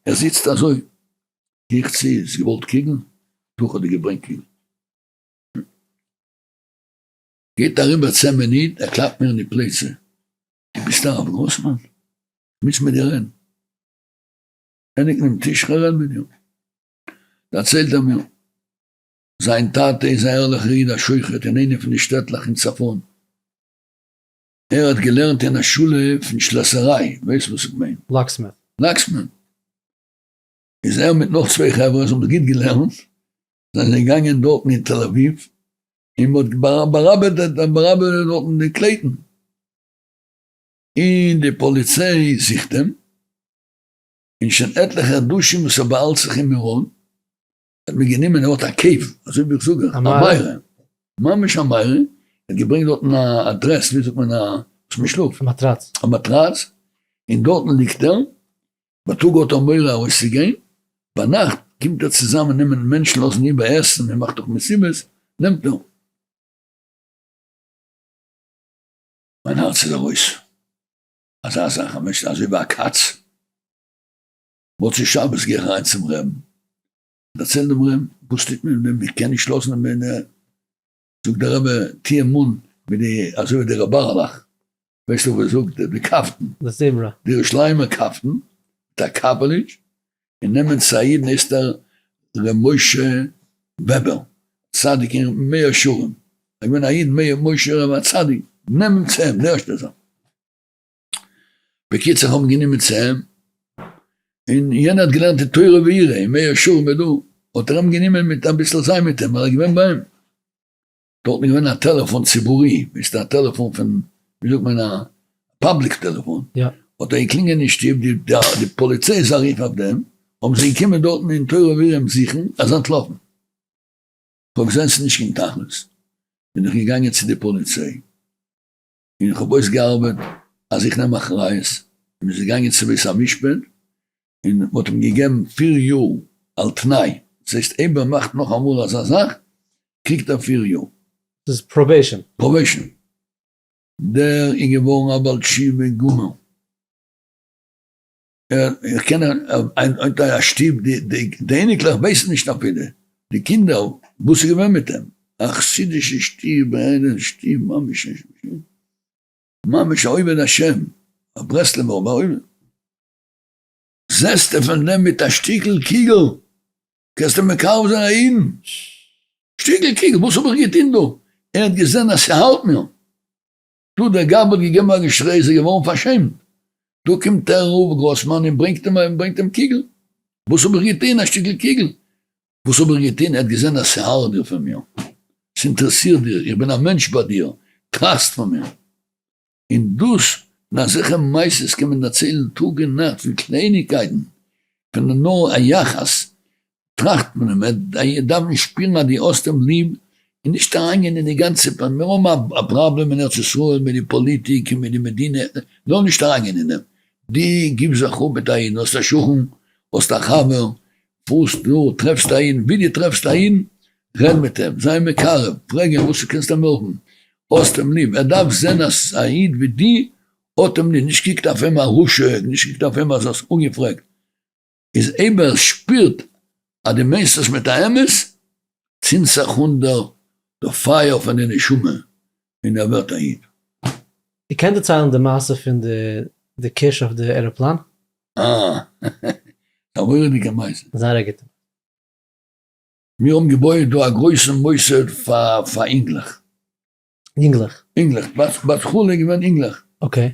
ער זיצט אזוי, קוק איך צו, האסט געוואלט קוגל? דא כ'האב דיר געברענגט קוגל. גייט אריבער צען מינוט, ער קלאפט מיר אין די פלייצע, ביסט הרב גראסמאן? כ'מוז מיט דיר רעדן. ענדיג דעם טיש, כ'וויל רעדן מיט דיר. דערציילט ער מיר, זיין טאטע איז א ערליכער איד א שוחט אין איינע פון די שטעטלעך אין צפון. ער האט געלערנט אין א שולע פון שלעסעריי, וועסט וואס איך מיין? לאקסמען. לאקסמען. איז ער מיט נאך צוויי חברה וואס האבן גוט געלערנט, זענען זיי געגאנגען דארטן אין תל אביב, און מען האט באראבעטעט דארטן די קלייטן, און די פאליציי זוכט אים, און שוין עטליכע חדשים וואס ער באהאלט זיך אין מירון, האט מען גענומען, ער האט א קעיוו, אזוי ווי איך זאג, א מערה, ממש א מערה, ער האט געברענגט דארטן א אדרעס, ווי זאגט מען א, וואס מען שלאפט, א מאטראץ, א מאטראץ, און דארטן ליגט ער, בייטאג האט ער מורא ארויסצוגיין, ביינאכט קומט ער צוזאמען נעמען מענטשן לאזן איבער עסן און מאכט אויף מסיבות, נעמט ער. מיין הארץ איז ארויס, אזא זאך א מענטש אזוי ווי א קאץ, מוצאי שבת גיי איך אריין צום רעבן, דערצייל דעם רעבן וואס טוט מען ווען מען קען נישט לאזן מען. זאגט דער רבי טוה אים אן מיט די אזוי ווי די רבי'לעך, ווייסטו וואס זאגט די קאפטן, די ירושלימ'ער קאפטן, מיט א קאפעליטש, און נעמען צו א אידן הייסט ער ר' משה וועבער, צדיק אין מאה שערים, ער איז געווען א איד מאה משה ר' א צדיק, נעם אים צו אים די ערשטע זאך. בקיצור כ'האב גענומען צו אים, און יענער האט געלערנט אין תורה ויראה אין מאה שערים ודו ק, האט ער אים גענומען מיט אביסל זיין מיט אים, ער איז געווען ביי אים, דארטן איז געווען א טעלעפאן ציבורי, וויסטע א טעלעפאן פון, ווי זאגט מען א פאבליק טעלעפאן, האט ער געקלינגען אין שטוב, די פאליציי איז ארויף אויף דעם, האבן זיי געקומען דארטן אין תורה ויראה אים זוכן, ער איז אנטלאפן, כ'האב געזען ס'איז נישט קיין תכלית, בין איך געגאנגען צו די פאליציי. און איך האב אויסגעארבעט אז איך נעם אחריות, און מ'איז געגאנגען צו בית המשפט און מ'האט אים געגעבן פיר יאר על תנאי, דאס הייסט אויב ער מאכט נאכאמאל אזא זאך קריגט ער פיר יאר. ס'איז פראבעישאן. פראבעישאן. דער איז געווארן א בעל תשובה גמור. איך קען היינט א שטוב די אייניקלעך ווייסן נישט אפילו די קינדער וואס איז געווען מיט אים, א חסידישע שטוב א איינער שטוב ממש ממש א עובד השם א ברסלבער בר אילן, זעסטו פון דעם מיט א שטיקל קוגל קענסטו מקרב זיין א אידן? שטיקל קוגל וואס האב איך געטון דא? ער האט געזען אז ס'האלט מיר. טא דער גאב ד האט געגעבן א געשריי איז ער געווארן פארשעמט, דא קומט ער רב גראסמאן און ברענגט אים און ברענגט אים קיגל, וואס האב איך געטון א שטיקל קיגל, וואס האב איך געטון, ער האט געזען אז ס'הארגט דיר פון מיר, ס'אינטערעסירט דיר, איך בין א מענטש ביי דיר, טראסט פון מיר, און דאס און אזעלכע מעשות קען מען דערציילן טאג און נאכט פון קלייניגקייטן, פון נאר א יחס, טראכט מען און מען דארף נישט שפירן אז דו האסט אים ליב און נישט אריינגיין אין די גאנצע פרטים, מיר האבן א פראבלעם אין ארץ ישראל מיט די פאליטיק און מיט די מדינה, מ'זאל נישט אריינגיין אין דעם, דו גיבסט זיך אפ מיט א אידן, האסט א שכן, האסט א חבר, פארסט דא, טרעפסט א אידן, ווי דו טרעפסט א אידן, רעד מיט אים, זיי אים מקרב, פרעג אים וואס קענסט אים העלפן, האסט אים ליב, ער דארף זען אז א איד ווי דו האט אים ליב, נישט קוקט אויף אים א רשע, נישט קוקט אויף אים אז האסט אנגעפרעגט. איז אייב ער שפירט אז די מיינסט עס מיט א אמת, צינד זיך אן דער דער פייער פון די נשמה און ער ווערט א איד. איר קענט דערציילן די מעשה פון די די קיש אויף די עראפלאן? אה. א מורא'דיגע מעשה. זייער א גוטע. מיר האבן געבויעט דא א גרויסע מוסד פאר פאר אינגלעך. יונגלעך. אינגלעך, בהתחלה איז געווען אינגלעך. אקעי.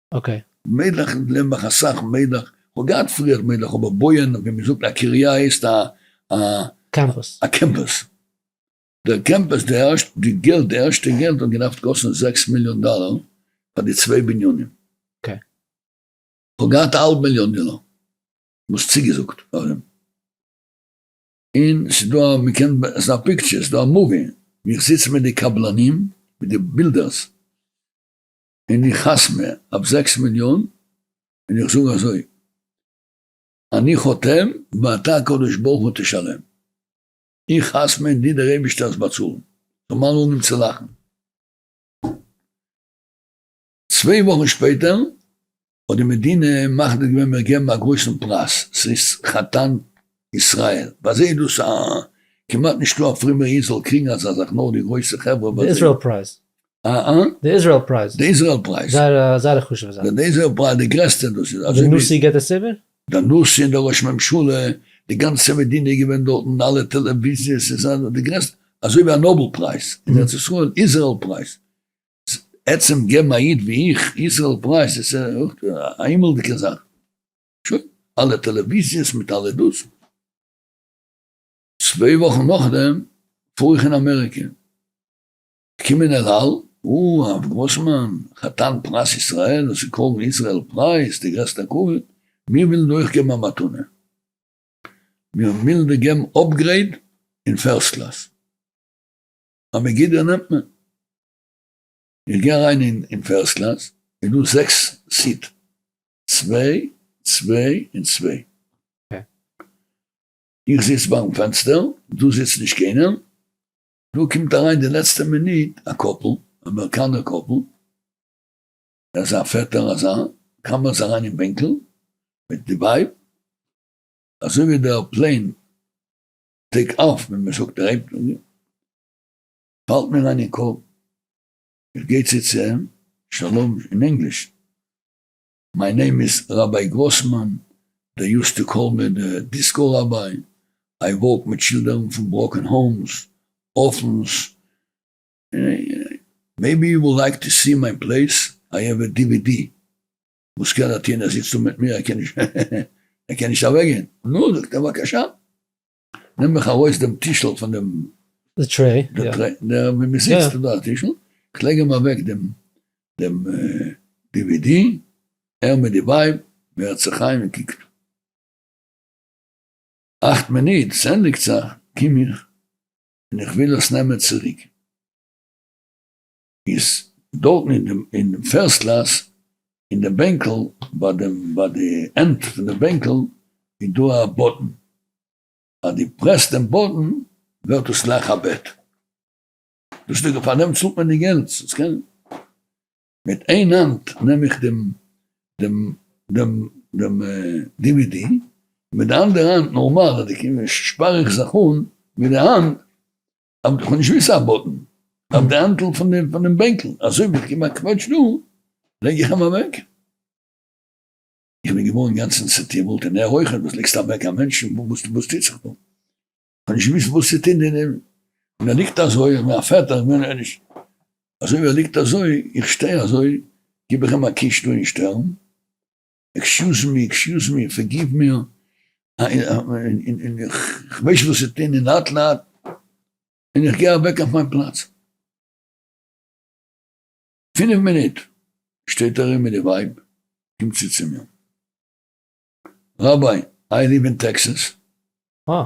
אקעי. מיידלעך איך לערן ביך אסאך מיידלעך, איך האב געהאט פריער מיידלעך אבער בויען ווי מען זאגט א קריה הייסט א א קעמפוס. א קעמפוס. דער קעמפוס די ערשט די געלט די ערשטע געלט האט געדארפט קאסטן זעקס מיליאן דאלער פאר די צוויי בנינים. אקעי. איך האב געהאט א האלב מיליאן דאלער וואס צוגעזאגט פאר אים. און ס'איז דא א מען קען עס איז א פיקטשער ס'איז דא א מאווי ווי איך זיץ מיט די קבלנים מיט די בילדערס און איך האס מער אויף זעקס מיליאן, און איך זאג אזוי, אני חותם ואתה הקדוש ברוך הוא תשלם, איך האס מער און דו דער אייבערשטער האסט באצאלן, סאו מיין אנהויב צו לאכן. צוויי וואכן שפעטער האט די מדינה מחליט געווען מיר געבן א גרויסן פרס ס'איז חתן ישראל, ביי זיי איז דאס א כמעט נישטא א פרומער איד זאל קריגן אזא זאך נאר די גרויסע חברה ביי זיי. די איזראעל פרייז. אה אה? די איזראעל פרייז. די איזראעל פרייז. זייער א זייער א חשוב'ע זאך. די איזראעל פרייז די גרעסטע דאס איז אזוי ווי. די נשיא געבט עס איבער? די נשיא און די ראש ממשלה, די גאנצע מדינה איז געווען דארטן, אלע טעלעוויזיעס, ס'איז א די גרעסטע, אזוי ווי א נאבעל פרייז אין ארץ ישראל, איזראעל פרייז. עצם געבן א איד ווי איך ישראל פרייז איז אויך א הימעלדיגע זאך, שוין, אלע טעלעוויזיעס מיט אלע דאס, צוויי וואכן נאכדעם פאר איך אין אמעריקע, כ'קום אין אל על, אה, הרב גראסמאן, חתן פרס ישראל, דאס איז קרוב לישראל פרייז, די גרעסטע כבוד, מיר ווילן דיר אויך געבן א מתנה, מיר ווילן דיר געבן אפגרעיד אין פירסט קלאס. א מגידו נעמט מען. איך גיי אריין אין פערסט קלעס, איז דא זעקס סיט, צוויי, צוויי, און צוויי. איך זיץ ביים פענסטער, דא זיצט נישט קיינער, דא קומט אריין די לעצטע מינוט א קאפל, א אמעריקאנער קאפל, ער איז א פעטער אזא, קאמערס אריין אין בענקל, מיט די ווייב, אזוי ווי דער פלעין טעג אויף ווען מען זאגט רייט נאגן פאלט מיר איין אין קאפ איך גיי צו צו אים שלום אין ענגליש מיי נעים איז ראביי גראסמאן דעי יוזט טו קאל מי דע דיסקאו ראביי איי ווארק מיט טשילדערן פון בראקען האומס ארפענס מעיבי יו וויל לייק טו סי מיי פלעיס איי העוו א די ווי די וואס קען ער טוהן ער זיצט דא מיט מיר ער קען נישט ער קען נישט אוועק גיין, נו זאגט ער בבקשה נעם איך ארויס דעם טישל פון דעם די טרעי, די טרעי דער ווי מען זיצט דארט טישל, איך לייג אים אוועק דעם דעם די ווי די, ער מיט די ווייב מ'הערט זיך איין מען קוקט, אכט מינוט ס'ענדיגט זיך קום איך און איך וויל עס נעמען צוריק. איז דארטן אין דעם אין דעם פערסט קלאס אין דעם בענקל ביי דעם ביי די ענד פון דעם בענקל איז דא א באטן אז די פרעסט דעם באטן ווערט עס גלייך א בעט דאס איז דאס פאר דעם צאלט מען די געלט ס'איז קיין מיט איין האנט נעם איך דעם דעם דעם דעם די ווי די מיט די אנדערע האנט נארמאל אז די קינד שפאר איך זיך אן מיט די האנט אבער איך בין נישט ווי סיי באטן אויף די האנטל פונעם בענקל, אזוי ווי איך קום א קוועטש דא לייג איך אים אוועק. איך בין געווארן אינגאנצן צעטיוולט און ער אויכעט, וואס לייגסטו אוועק א מענטשן, וואס טוט זיך דא? איך האב נישט געוואוסט וואס צו טון און ער ליגט אזוי, איך בין א פעטער, איך בין ער, אזוי ווי ער ליגט אזוי, איך שטיי אזוי, גיב איך אים א קיש דא אין שטערן, עקסיוז מי, עקסיוז מי, פארגיב מיר, כ'ווייס נישט וואס צו טון, און לאט לאט, און איך גיי אוועק אויף מיין פלאץ. פינף מינוט שטייט ער אויף מיט די ווייב, קומט זי צו מיר, ראביי, איי ליוו אין טעקסעס. אה.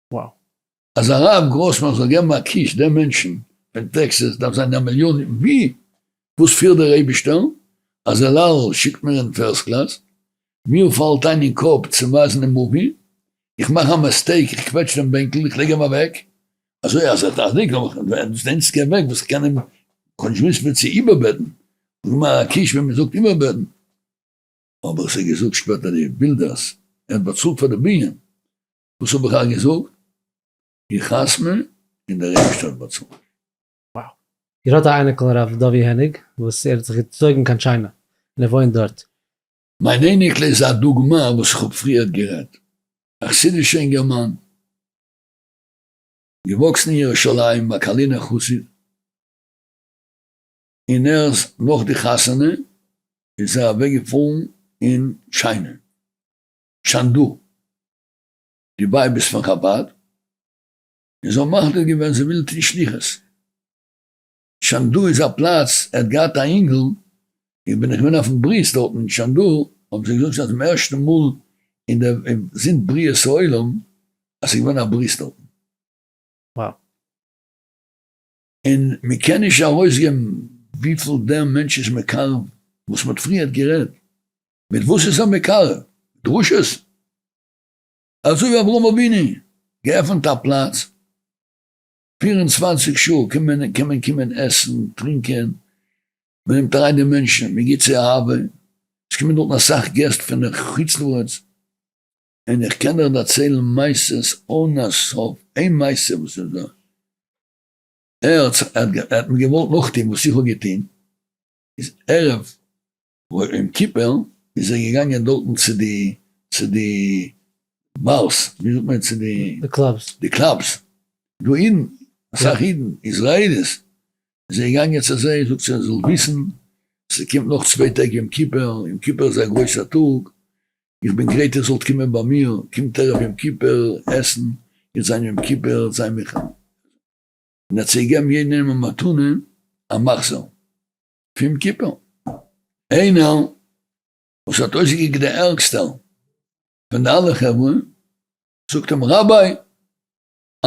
wow. אז הרב גראסמאן זאל געבן א קיש דעם מענטשן אין טעקסעס דארף זיין א מיליאן ווי וואס פירט דער אייבישטער אז אל על שיקט מיר אין פירסט קלאס מיר פאלט איין אין קאפ צו ווייזן די מאווי איך מאך א מיסטעיק איך קוועטש דעם בענקל איך לייג אים אוועק אזוי אז ער האט א ריק אבער דאס איז די איינציגע וועג וואס איך קען אים כ'האב נישט וואס צו איבערבעטן זאג מיר א קיש ווי מ'זאגט איבערבעטן אבער ס'איז געזאגט שפעטער די בילדערס ער האט באצאלט פאר די בנין וואס האב איך אייך געזאגט? די חתמה און דער אייבערשטער האט באצאלט. וואו. איר האט א אייניקל הרב דובי העניג וואס ער האט זיך געצויגן קיין טשיינע און ער וואוינט דארט. מיין אייניקל איז א דוגמא וואס איך האב פריערט גערעדט, א חסידישע אינגערמאן, געוואקסן אין ירושלים, א קארלינער חסיד, און ער איז נאך די חתונה איז ער אוועקגעפארן אין טשיינע. שוין דא די ווייב איז פון חבד און זיי האבן מחליט געווען זי וויל טון שליחות, שוין דא איז א פלאץ ער האט געהאט א אינגל איך בין געווען אויפן ברית דארטן און שוין דא האבן זיי געזאגט אז צום ערשטן מאל אין די זינט בריאת העולם אז ס'איז געווען א ברית דארטן. און מען קען נישט ארויסגעבן וויפיל דער מענטש איז מקרב, וואס מען האט פריערט גערעדט, מיט וואס איז ער מקרב? דרשות? אזוי ווי אברהם אבינו געעפנט א פלאץ, פֿיר און צוואַנציק שעה קען מען קען מען קומען עסן טרינקען, מען נעמט אריין די מענטשן, מען גיבט זיי אהבה, עס קומען דארטן אסאך געסט פון חוץ לארץ, און איך קען דיך דערציילן מעשות אן א סוף, איין מעשה וואס איז דא, ער האט מיר געוואלט נאכטוהן וואס איך האב געטוהן, איז ערב יום כיפור איז ער געגאנגען דארטן צו די צו די בארס, ווי זאגט מען צו די, די קלאבס, די קלאבס, דא אידן, אסאך אידן, איזראעליס, איז ער געגאנגען צו זיי, זאגט זיי, זאלט וויסן, ס'קומט נאך צוויי טעג יום כיפור, יום כיפור איז א גרויסע טאג, איך בין גרייט איר זאלט קומען ביי מיר, קומט ערב יום כיפור עסן, גייט זיין יום כיפור, זיי מיך און איך צו געבן יעדעם א מתנה א מחזור פון יום כיפור, איינער וואס האט אויסגעקוקט די ערגסטער פון די אלע חברה, זאגט אים ראביי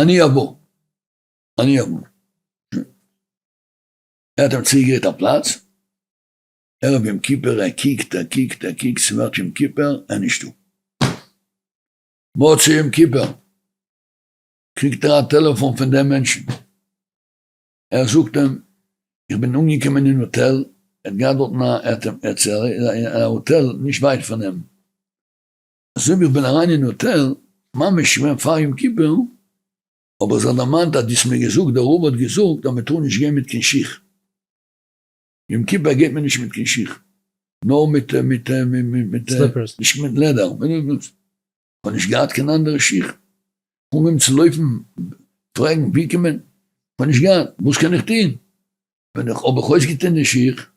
אני אבוא, אני אבוא, ער האט אים צוגעגרייט א פלאץ, ערב יום כיפור ער קוקט ער קוקט ער קוקט ס'ווערט יום כיפור ער נישטא. מוצאי יום כיפור קריגט ער א טעלעפאן פון דעם מענטשן, ער זאגט אים איך בין אנגעקומען אין האטעל, ער האט געהאט דארטן א א האטעל נישט ווייט פון אים, ער זאגט איך בין אריין אין האטעל ממש שווער פאר יום כיפור, אבער זיך דערמאנט אז דו האסט מיר געזאגט דער רב האט געזאגט אז מ'טאר נישט גיין מיט קיין שיך. יום כיפור גייט מען נישט מיט קיין שיך, נאר מיט מיט מיט סליפערס, נישט מיט לעדער, כ'האב נישט געהאט קיין אנדערע שיך, אנגעהויבן צו לויפן פרעגן ווי קען מען, כ'האב נישט געהאט, וואס קען איך טון, בין איך האב איך אויסגעטון די שיך,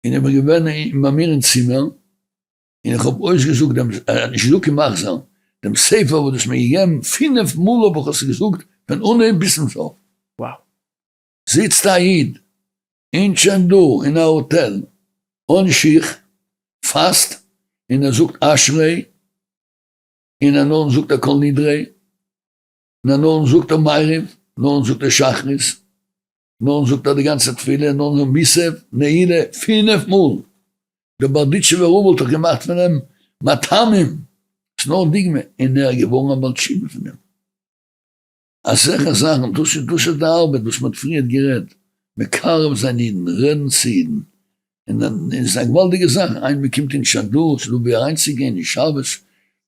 און איך בין געווען ביי מיר אין צימער, און איך האב אויסגעזאגט דעם, ער האט נישט געזאגט כמעט זיין, דעם ספר וואס דו האסט מיר געגעבן, פינף מאל האב איך עס געזאגט פון אנהויב ביזן סוף. זיצט א איד אין טשענדו אין א האטעל אן שיך, פאסט און ער זאגט אשרי, און א נארן זאגט ער כל נדרי, און א נארן זאגט ער מעריב, נארן זאגט ער שחרית, נארן זאגט ער די גאנצע תפילה, נארן זאגט מוסף, נעילה, פינף מאל, דער בארדיטשובער רב וואלט דאך געמאכט פון אים מטעמים, ס'איז נאר א דוגמא, און ער געווארן א בעל תשובה פון דעם. אסאך זאכן, דאס איז דאס איז די ארבעט וואס מען האט פריערט גערעדט, מקרב זיין אידן, רעדן צו אידן, און עס איז א געוואלדיגע זאך, איי מען קומט אין שאדור, ס'איז דא ווי אריינצוגיין אין שבת,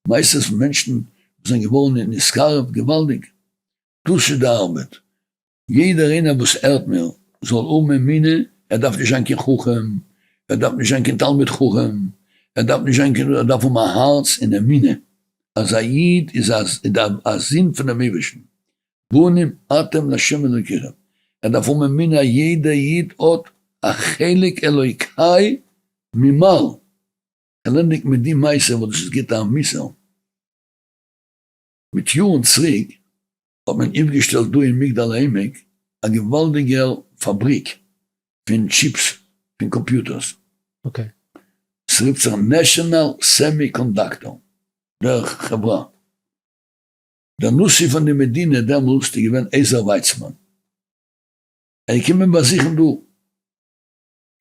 ווייסט עס מענשטן וואס זענען געווארן נשכר'ט געוואלדיג, דאס איז די ארבעט, יעדער איינער וואס הערט מיר זאל האבן אמונה, ער דארף נישט זיין קיין חכם, ער דארף נישט זיין קיין תלמיד חכם, ער דארף נישט זיין קיין, ער דארף האבן א הארץ און אמונה, אז א איד איז א זון פונעם אייבערשטן, בנים אתם לה' אלוקיכם, ער דארף האבן אמונה אז יעדע איד האט א חלק אלוקי ממעל, ענדענדיג מיט די מעשה וואס דאס איז גוט א מוסר, מיט יארן צוריק האט מען אויפגעשטעלט דא אין מגדל העמק א געוואלדיגער פאבריק פון טשיפס פון קאמפיוטערס, אקעי. ס'רופט זיך נעשענאל סעמי קאנדאקטאר דער חברה, דער נשיא פון די מדינה דעמאלסט איז געווען עזרא ווייצמאן, ער איז געקומען באזוכן דא,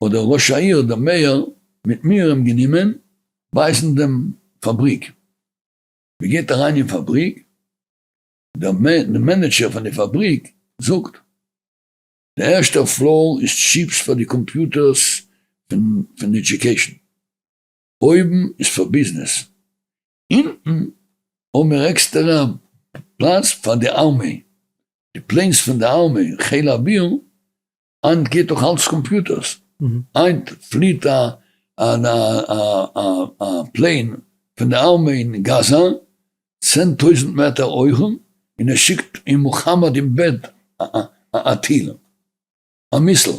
האט דער ראש העיר דער מעיאר מיט מיר אים גענומען ווייזן דעם פאבריק, מ'גייט אריין אין פאבריק, דער מענעדזשער פון די פאבריק זאגט, די ערשטע פלאר איז טשיפס פאר די קאמפיוטערס פון עדזשוקעישן, אויבן איז פאר ביזנעס, אונטן האבן מיר עקסטערע פלאץ פאר די ארמעי, די פלענס פון די ארמעי חיל האוויר היינט גייט דאך אלץ קאמפיוטערס, היינט פליעט א פלעין פון די ארמי אין גאזא צען טויזנט מעטער הויך און ער שיקט אין מוכאמאד אין בעט א טיל, א מיסל,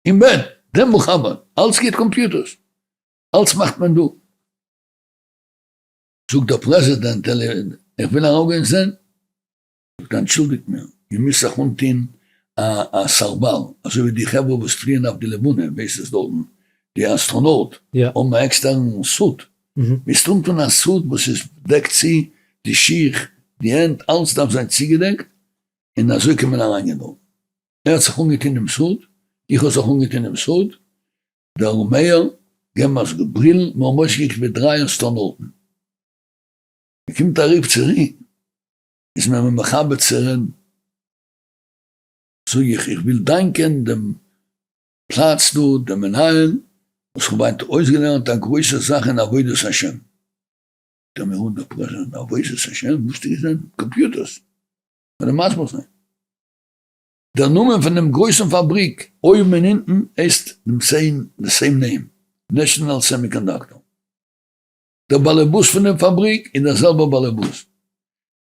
אין בעט, דעם מוכאמאד, אלץ גייט קאמפיוטערס, אלץ מאכט מען דא. זאגט דער פרעזידענט איך וויל ארויפגיין זען אנטשולדיגט מיר, מען מוז זיך אנטוהן א סרבל, אזוי ווי די חברה וואס פליען אויף די לבנה, ווער ס'איז דארטן די אסטראנאוט, האבן א עקסטערן סוט, מוזט אנטוהן א סוט וואס עס דעקט צו די שיך, די הענט, אלעס דארף זיין צוגעדעקט, און אזוי קען מען אריין גיין דארט. ער האט זיך אנגעטוהן דעם סוט, איך האב זיך אנגעטוהן דעם סוט, דער ר' מאיר געבן אונז די ברילן, מיר האבן אויסגעקוקט ווי דריי אסטראנאוטן. מען קומט ארויף צוריק, איז מען מיר מכבד צו רעדן, זאג איך איך וויל דאנקען דעם פלאץ דא, דעם מנהל, וואס כ'האב היינט אויסגעלערנט א גרויסע זאך אין עבודת השם. זאגט ער מיר אן דער פרעזידענט, עבודת השם? וואס האסטו געזען? קאמפיוטערס? זאל ער מסביר זיין. דער נאמען פון דעם גרויסן פאבריק, אויבן און אונטן, הייסט דעם סעים, די סעים נעים, נעשאנעל סעמיקאנדאקטער. דער באלעבאס פונעם פאבריק איז דער זעלבער באלעבאס,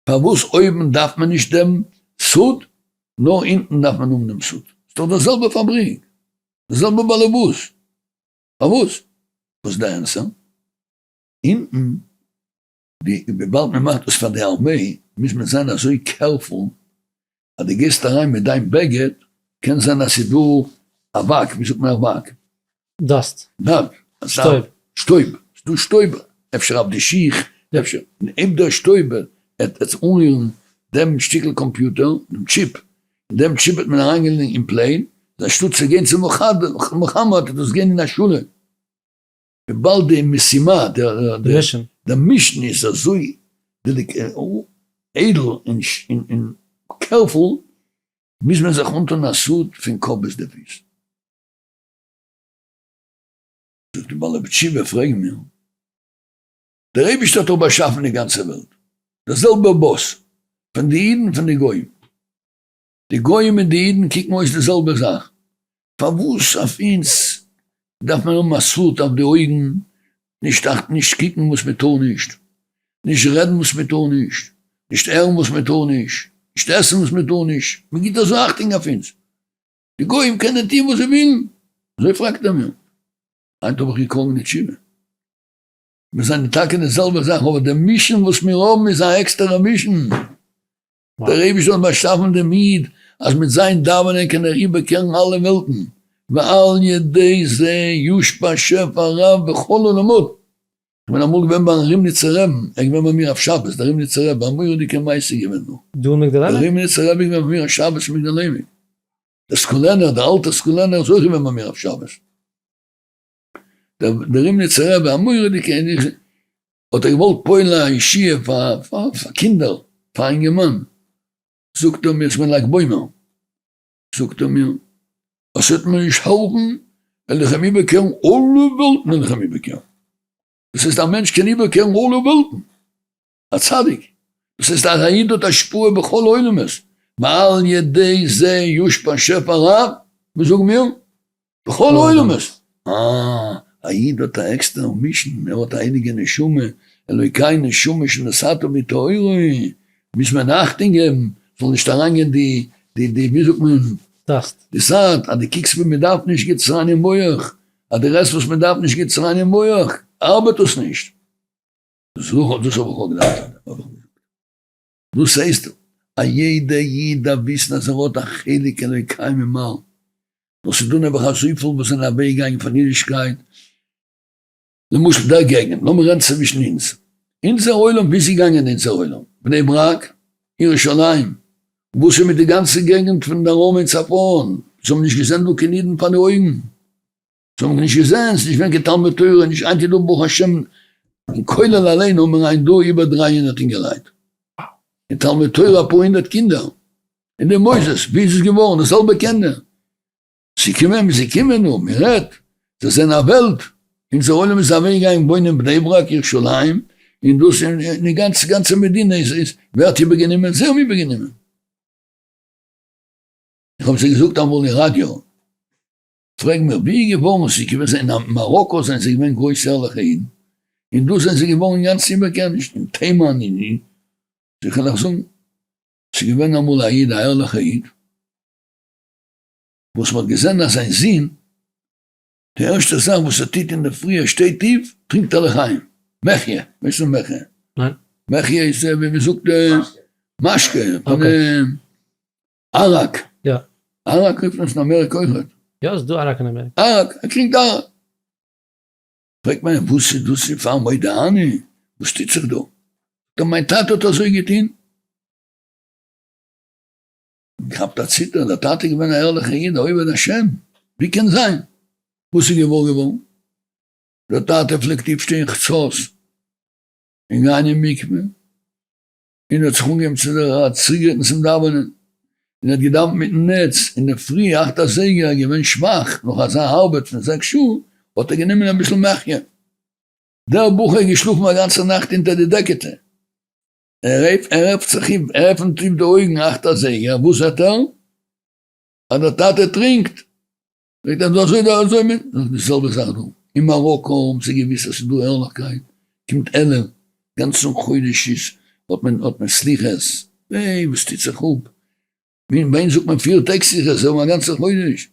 פארוואס אויבן דארף מען נישט דעם סוד נאר אינטן דארף מען האבן דעם סוד? ס'איז דאך דער זעלבער פאבריק, דער זעלבער באלעבאס, פארוואס? וואס איז די ענסער? אינטן, וויבאלד מ'מאכט דאס פאר די ארמעי, מוז מען זיין אזוי קערפול אז די גייסט אריין מיט דיין בגד קען זיין אז ס'דא א וואג, ווי זאגט מען אויף וואג? דאסט. דאג. שטויב. שטויב. ס'דא שטויב אפשר אויף די שיך, אפשר. אויב דער שטויב העט עטס אנרירן דעם שטיקל קאמפיוטער, דעם טשיפ, און דעם טשיפ וועט מען אריינגיין אין פלעין, אנשטאט צו גיין צו מוחמד, האט ער דאס גיין אין א שולע. וויבאלד די משימה, די מישן איז אזוי איידל און קערפול, מוז מען זיך אנטון א סוט פון קאפ ביז די פיס. זאגט די בעל תשובה, פרעג מיר, דער אייבערשטער האט דאך באשאפן די גאנצע וועלט, די זעלבע באס פון די אידן פון די גוים, די גוים און די אידן קוקן אויס די זעלבע זאך, פארוואס אויף אונז דארף מען האבן א זכות אויף די אויגן, נישט אכט נישט קוקן וואס מען טאר נישט, נישט רעדן וואס מען טאר נישט, נישט הערן וואס מען טאר נישט, נישט עסן וואס מען טאר נישט, מען גיבט אזוי אכטונג אויף אונז, די גוים קענען טון וואס זיי ווילן? אזוי פרעגט ער מיר, היינט האב איך געקראגן די תשובה, מיר זענען טאקע די זעלבע זאך אבער די מישן וואס מיר האבן איז א עקסטערע מישן, דער אייבישטער האט באשאפן דעם איד אז מיט זיין דאווענען קען ער איבערקערן אלע וועלטן, ועל ידי זה יושפע שפע רב בכל עולמות, איך בין אמאל געווען ביים רימניצער רעבן, ער איז געווען ביי מיר אויף שבת, דער רימניצער רעבע, א מורא'דיגע מעשה איז געווען דא, דער רימניצער רעבע איז געווען ביי מיר אויף שבת אין מגדל עמק, דער סקולענער, דער אלטער סקולענער איז אויך געווען ביי מיר אויף שבת. דער רימניצער רבי א מורא'דיגע עניוה, האט ער געוואלט פועל'ן א ישיבה פאר קינדער, פאר א אינגערמאן, זאגט ער מיר, ס'איז געווען לג בעומר, זאגט ער מיר, אז ס'וועט מיר נישט העלפן, וועל איך אים איבערקערן אלע וועלטן וועל איך אים איבערקערן, דאס הייסט א מענטש קען איבערקערן אלע וועלטן, א צדיק, דאס הייסט אז א איד האט השפעה בכל עולמות, ועל ידי זה יושפע שפע רב, וואס זאגן מיר? בכל עולמות, אה, א איד האט א עקסטערע מישן, ער האט א הייליגע נשמה, אלוקי נשמה שנשאתו בטהרה, מוז מען אכטונג געבן ס'זאל נישט אריין גיין די די די ווי זאגט מען? דאסט. די סארט, אז די קוקסט ווי מ'דארף נישט גיבט עס אריין אין מח, אז די רעדסט וואס מ'דארף נישט גיבט עס אריין אין מח, ארבעט דאס נישט. זוכן דאס האב איך אויך געדארפט. דאס הייסט א יעדע איד דארף וויסן אז ער האט א חלק אין ריקיים אין מעל, נאר ס'דא נעבעך אזויפיל וואס זענען אוועק געגאנגען פאר אידישקייט, למשל דער געגענט, לאמיר רעדן צווישן אונז, אונזער עולם ווי איז געגאנגען אונזער עולם, בני ברק, ירושלים, וואס איז מיט די גאנצע געגענט פון דרום און צפון, זיי האבן נישט געזען דא קיין אידן פאר די אויגן. זאל מען נישט געזען ס'איז נישט געווען קיין תלמוד תורה נישט היינט איז דא ברוך השם אין כולל אליין האבן מיר היינט דא איבער דרײַ הונדערט אינגעלייט אין תלמוד תורה אפאר הונדערט קינדער אין די מוסדות ווי איז עס געווארן די זעלבע קענער צו קומען צו קומען און מען רעדט זיי זענען א וועלט אונזער עולם איז אוועק געגאנגען וואוינען אין בני ברק ירושלים און דאס און די גאנצע גאנצע מדינה איז איז ווער האט איבער גענומען זיי האבן איבער גענומען איך האב זיי געזאגט אמאל אין ראדיא. פרעג מיר ווי איז געווארן וואס איז געווען זיי אין מאראקא זענען זיי געווען גרויס ערליכע אידן און דא זענען זיי געווארן גאנץ איבערגערנישט אין תימן אין אין זיי קען איך זאגן ס'איז געווען אמאל א איד א ערליכע איד וואס מ'האט געזען אז זיין זון די ערשטע זאך וואס ער טוט אינדערפרי ער שטייט אויף טרינקט א לחיים מחיה ווייסט וואס מחיה ניין. מחיה איז ווי מ'זאגט משקה פון. אראק? יא. אראק קויפט מען נישט אין אמעריקא אויכעט? יא, ס'דא אראק אין אמעריקא. אראק, ער טרינקט אראק. פרעגט מען אים, וואס איז דאס און פאר מודה אני? וואס טוט זיך דא? זאגט ער, מיין טאטע האט אזוי געטון. געכאפט א ציטער, דער טאטע איז געווען א ערליכער איד, א עובד השם, ווי קען זיין? וואס איז געוואר געווארן? דער טאטע פלעגט אפשטיין חצות און גיין אין מקווה. און ער האט זיך אנגעהויבן צו דער ר ה צוריקגרייטן צום דאווענען, און ער האט געדאווענט מיטן נץ אינדערפרי אכט אזייגער, געווען שוואך נאך אזא ארבעט פון זעקס שעה, האט ער גענומען אביסל מחיה, דער בחור האט געשלאפן א גאנצע נאכט אונטער די דעקעטע, ערב ערב צו חב ד, ער עפענט אויף די אויגן אכט אזייגער, וואס זעט ער? אז דער טאטע טרינקט, זאגט אז אזוי דא אזוי מען זאגט די זעלבע זאך דא אין מאראקא האבן זיי געוויסט אז ס'דא הערליכקייט קומט אלול גאנצן חודש איז האט מען האט מען סליחות אה וואס טוט זיך אפ ווי ביי אונז זאגט מען פיר טעג סליחות זיי האבן א גאנצע חודש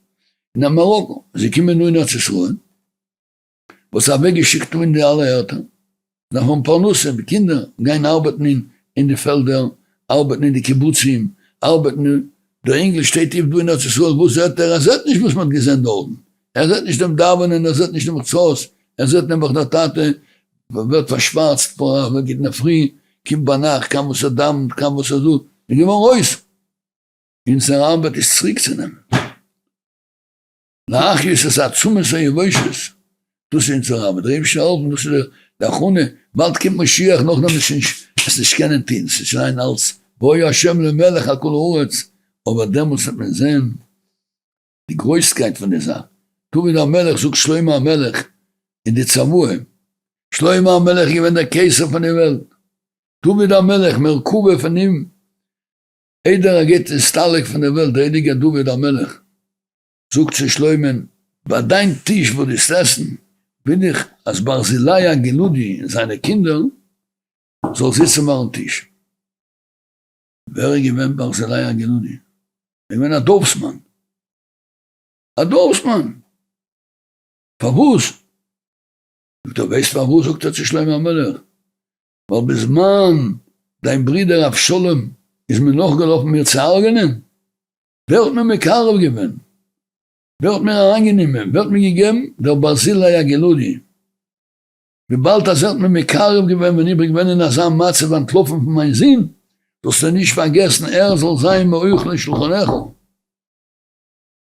אין מאראקא זיי קומען דא אין ארץ ישראל. וואס אוועק געשיקט האבן אין די אלע ערטער, זיי האבן פרנסה מיט קינדער, גייען ארבעטן אין אין די פעלדער, ארבעטן אין די קיבוצים, ארבעטן אין דער אינגל שטייט טיף דא אין ארץ ישראל, וואס זעט ער? ער זעט נישט וואס מען האט געזען דארטן, ער זעט נישט דעם דאווענען, ער זעט נישט די מצות, ער זעט נעבעך דער טאטע ווערט פארשווארצט, פארהארגעט אין דער פרי, קומט ביינאכט, קיין וואס ער דאווענט, קיין וואס ער זאגט, איז געווארן אויס, אונזער ארבעט איז צוריק צו נעמען. להכניס את עצמות היבשות דאס איז אונזער ארבעט, דער אייבערשטער זאל העלפן, דאס איז די הכנה, באלד קומט משיח, נאכדעם וועסטו נישט וועסטו נישט קענען טון, ס'וועט שרייען אלץ והיה ה' למלך על כל הארץ, אבער דעמאלטס וועט מען זען די גרויסקייט פון די זאך, דוד המלך זאגט שלמה המלך איז די צוואה, שלמה המלך איז געווען דער קיסר פון די וועלט, דוד המלך מערקבע פון אים איידער ער גייט נסתלק פון דער וועלט, דער הייליגער דוד המלך זאגט צו שלמה'ן, ביי דיין טיש וואו דו עסט עסן, וויל איך אז ברזילי' הגלעדי און זיינע קינדער זאל זיצן ביי אן טיש. ווער איז געווען ברזילי' הגלעדי? ער איז געווען א דארפסמאן. א דארפסמאן! פארוואס? זאגט ער, ווייסט פארוואס? זאגט ער צו שלמה המלך, ווייל בזמן דיין ברודער אבשלום איז מען נאך געלאפן מיר צו הרג'נען, ווער האט מיר מקרב געווען, ווער האט מיר אריינגענומען, ווער האט מיר געגעבן, דער ברזיליי הגלודי, וויבאלד אז ער האט מיר מקרב געווען ווען איך בין געווען אין אזא מצב אנטלאפן פון מיין זון, זאלסטו נישט פארגעסן ער זאל זיין מעוך לשולחנך.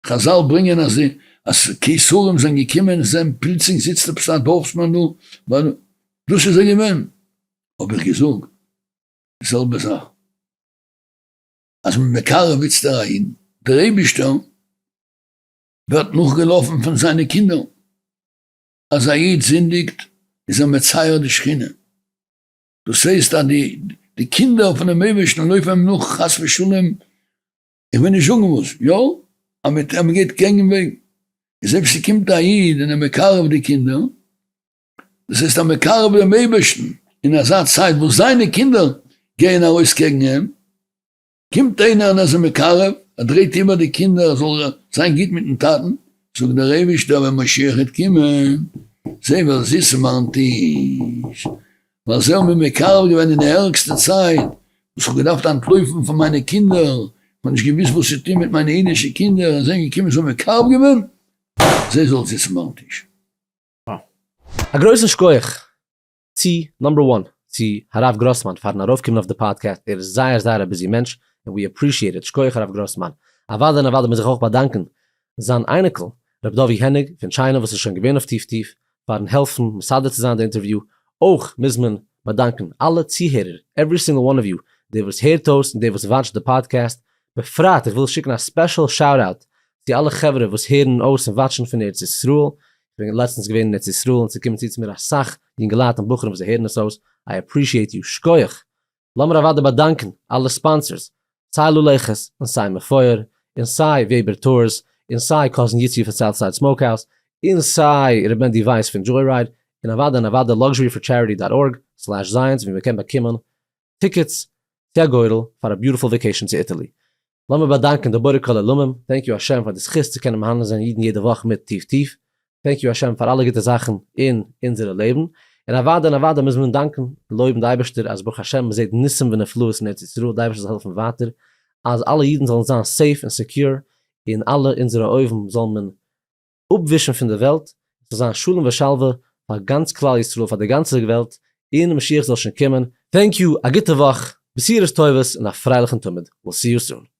חזל ברענגען אז די אז קיסרים זענען געקומען זעהן פלוצלינג זיצט עפעס א דארפסמאן דא ביי די דאס איז ער געווען האב איך געזאגט די זעלבע זאך אז מען מקרב איצטער א אידן דער אייבישטער ווערט נאכגעלאפן פון זיינע קינדער אז א איד זינדיגט איז ער מצער די שכינה דאס הייסט אז די די קינדער פונעם אייבישטער לויפן אים נאך חס ושלום איך וועל נישט זאגן וואס, יא, אז מען אז מען גייט קעגן וועגן, איז אויב ס'קומט א איד און ער מקרב די קינדער, דאס הייסט א מקרב דעם אייבערשטן, אין אזא צייט וואס זיינע קינדער גייען ארויס קעגן אים, קומט איינער און ער איז אים מקרב, ער דרייט איבער די קינדער ער זאל זיין גוט מיטן טאטן, זאגט דער אייבערשטער ווען משיח העט קומען, זיי וועלן זיסן מיין טיש, ווייל זיי האבן מיר מקרב געווען אין די ערגסטע צייט וואס איך האב געדארפט אנטלויפן פון מיינע קינדער, איך האב נישט געוואוסט וואס צו טון מיט מיינע אידישע קינדער, און זיי זענען געקומען זיך מקרב געווען זיי זאלן זיצן ביים טיש. א גרויסן שקויעך צו נאמבער וואן צו הרב גראסמאן פארן ארויפקומען אויף די פאדקעסט, ער איז זייער זייער א ביזי מענטש און ווי עפרישיעט איט, שקויעך הרב גראסמאן, אוואדע און אוואדע מוז איך אויך באדאנקען זיין אייניקל ר' דובי העניג פון טשיינע וואס איז שוין געווען אויף טיף טיף פארן העלפן מסדר צו זיין די אינטערוויו, אויך מוז מען באדאנקן אלע צוהערער עווערי סינגל וואן אוו יו, די וואס הערט אויס און די וואס וואטשט די פאדקעסט, בפרט איך וויל שיקן א ספעשל שאוט אוט צו אלע חברה וואס הערן אויס און וואטשן פון ארץ ישראל, איך בין לעצטנס געווען אין ארץ ישראל און ס'קומען צו צו מיר אסאך יונגעלייט און בחורים וואס זיי הערן עס אויס, איי עפרישיעט יו, שקויעך לאמיר אוודאי באדאנקן אלע ספאנסערס, סיי לולעכעס און סיי מפואר, און סיי וועבער טארס, און סיי קאזין יצחק פון סאוטסייד סמאוקהאוז, און סיי ר' מענדי ווייס פון דזשוירייד, און אוודאי און אוודאי לאקזשערי פאר טשעריטי דאט ארג סלעש זייענס ווי מען קען באקומען טיקעטס צו א גורל פאר א ביוטיפול וואקעישאן צו איטעלי. לאמיר באדאנקען די בורא כל עולמים, טענק יו השם פאר די זכות צו קענען מהנה זיין אידן יעדע וואך מיט טיף טיף, טענק יו השם פאר אלע גוטע זאכן אין אונזערע לעבן, און אוודאי און אוודאי מוז מען דאנקען און לויבן די אייבערשטער אז ברוך השם מען זעט ניסים ונפלאות אין ארץ ישראל, די אייבערשטער זאל העלפן ווייטער אז אלע אידן זאלן זיין סעיף און סעקיור, און אלע אונזערע אויבן זאל מען אפווישן פון די וועלט, עס זאל זיין שלום ושלווה פאר גאנץ כלל ישראל און פאר די גאנצע וועלט, און משיח זאל שוין קומען, טענק יו, א גוטע וואך, בשורות טובות און א פרייליכן תמיד, וויל סי יו סון.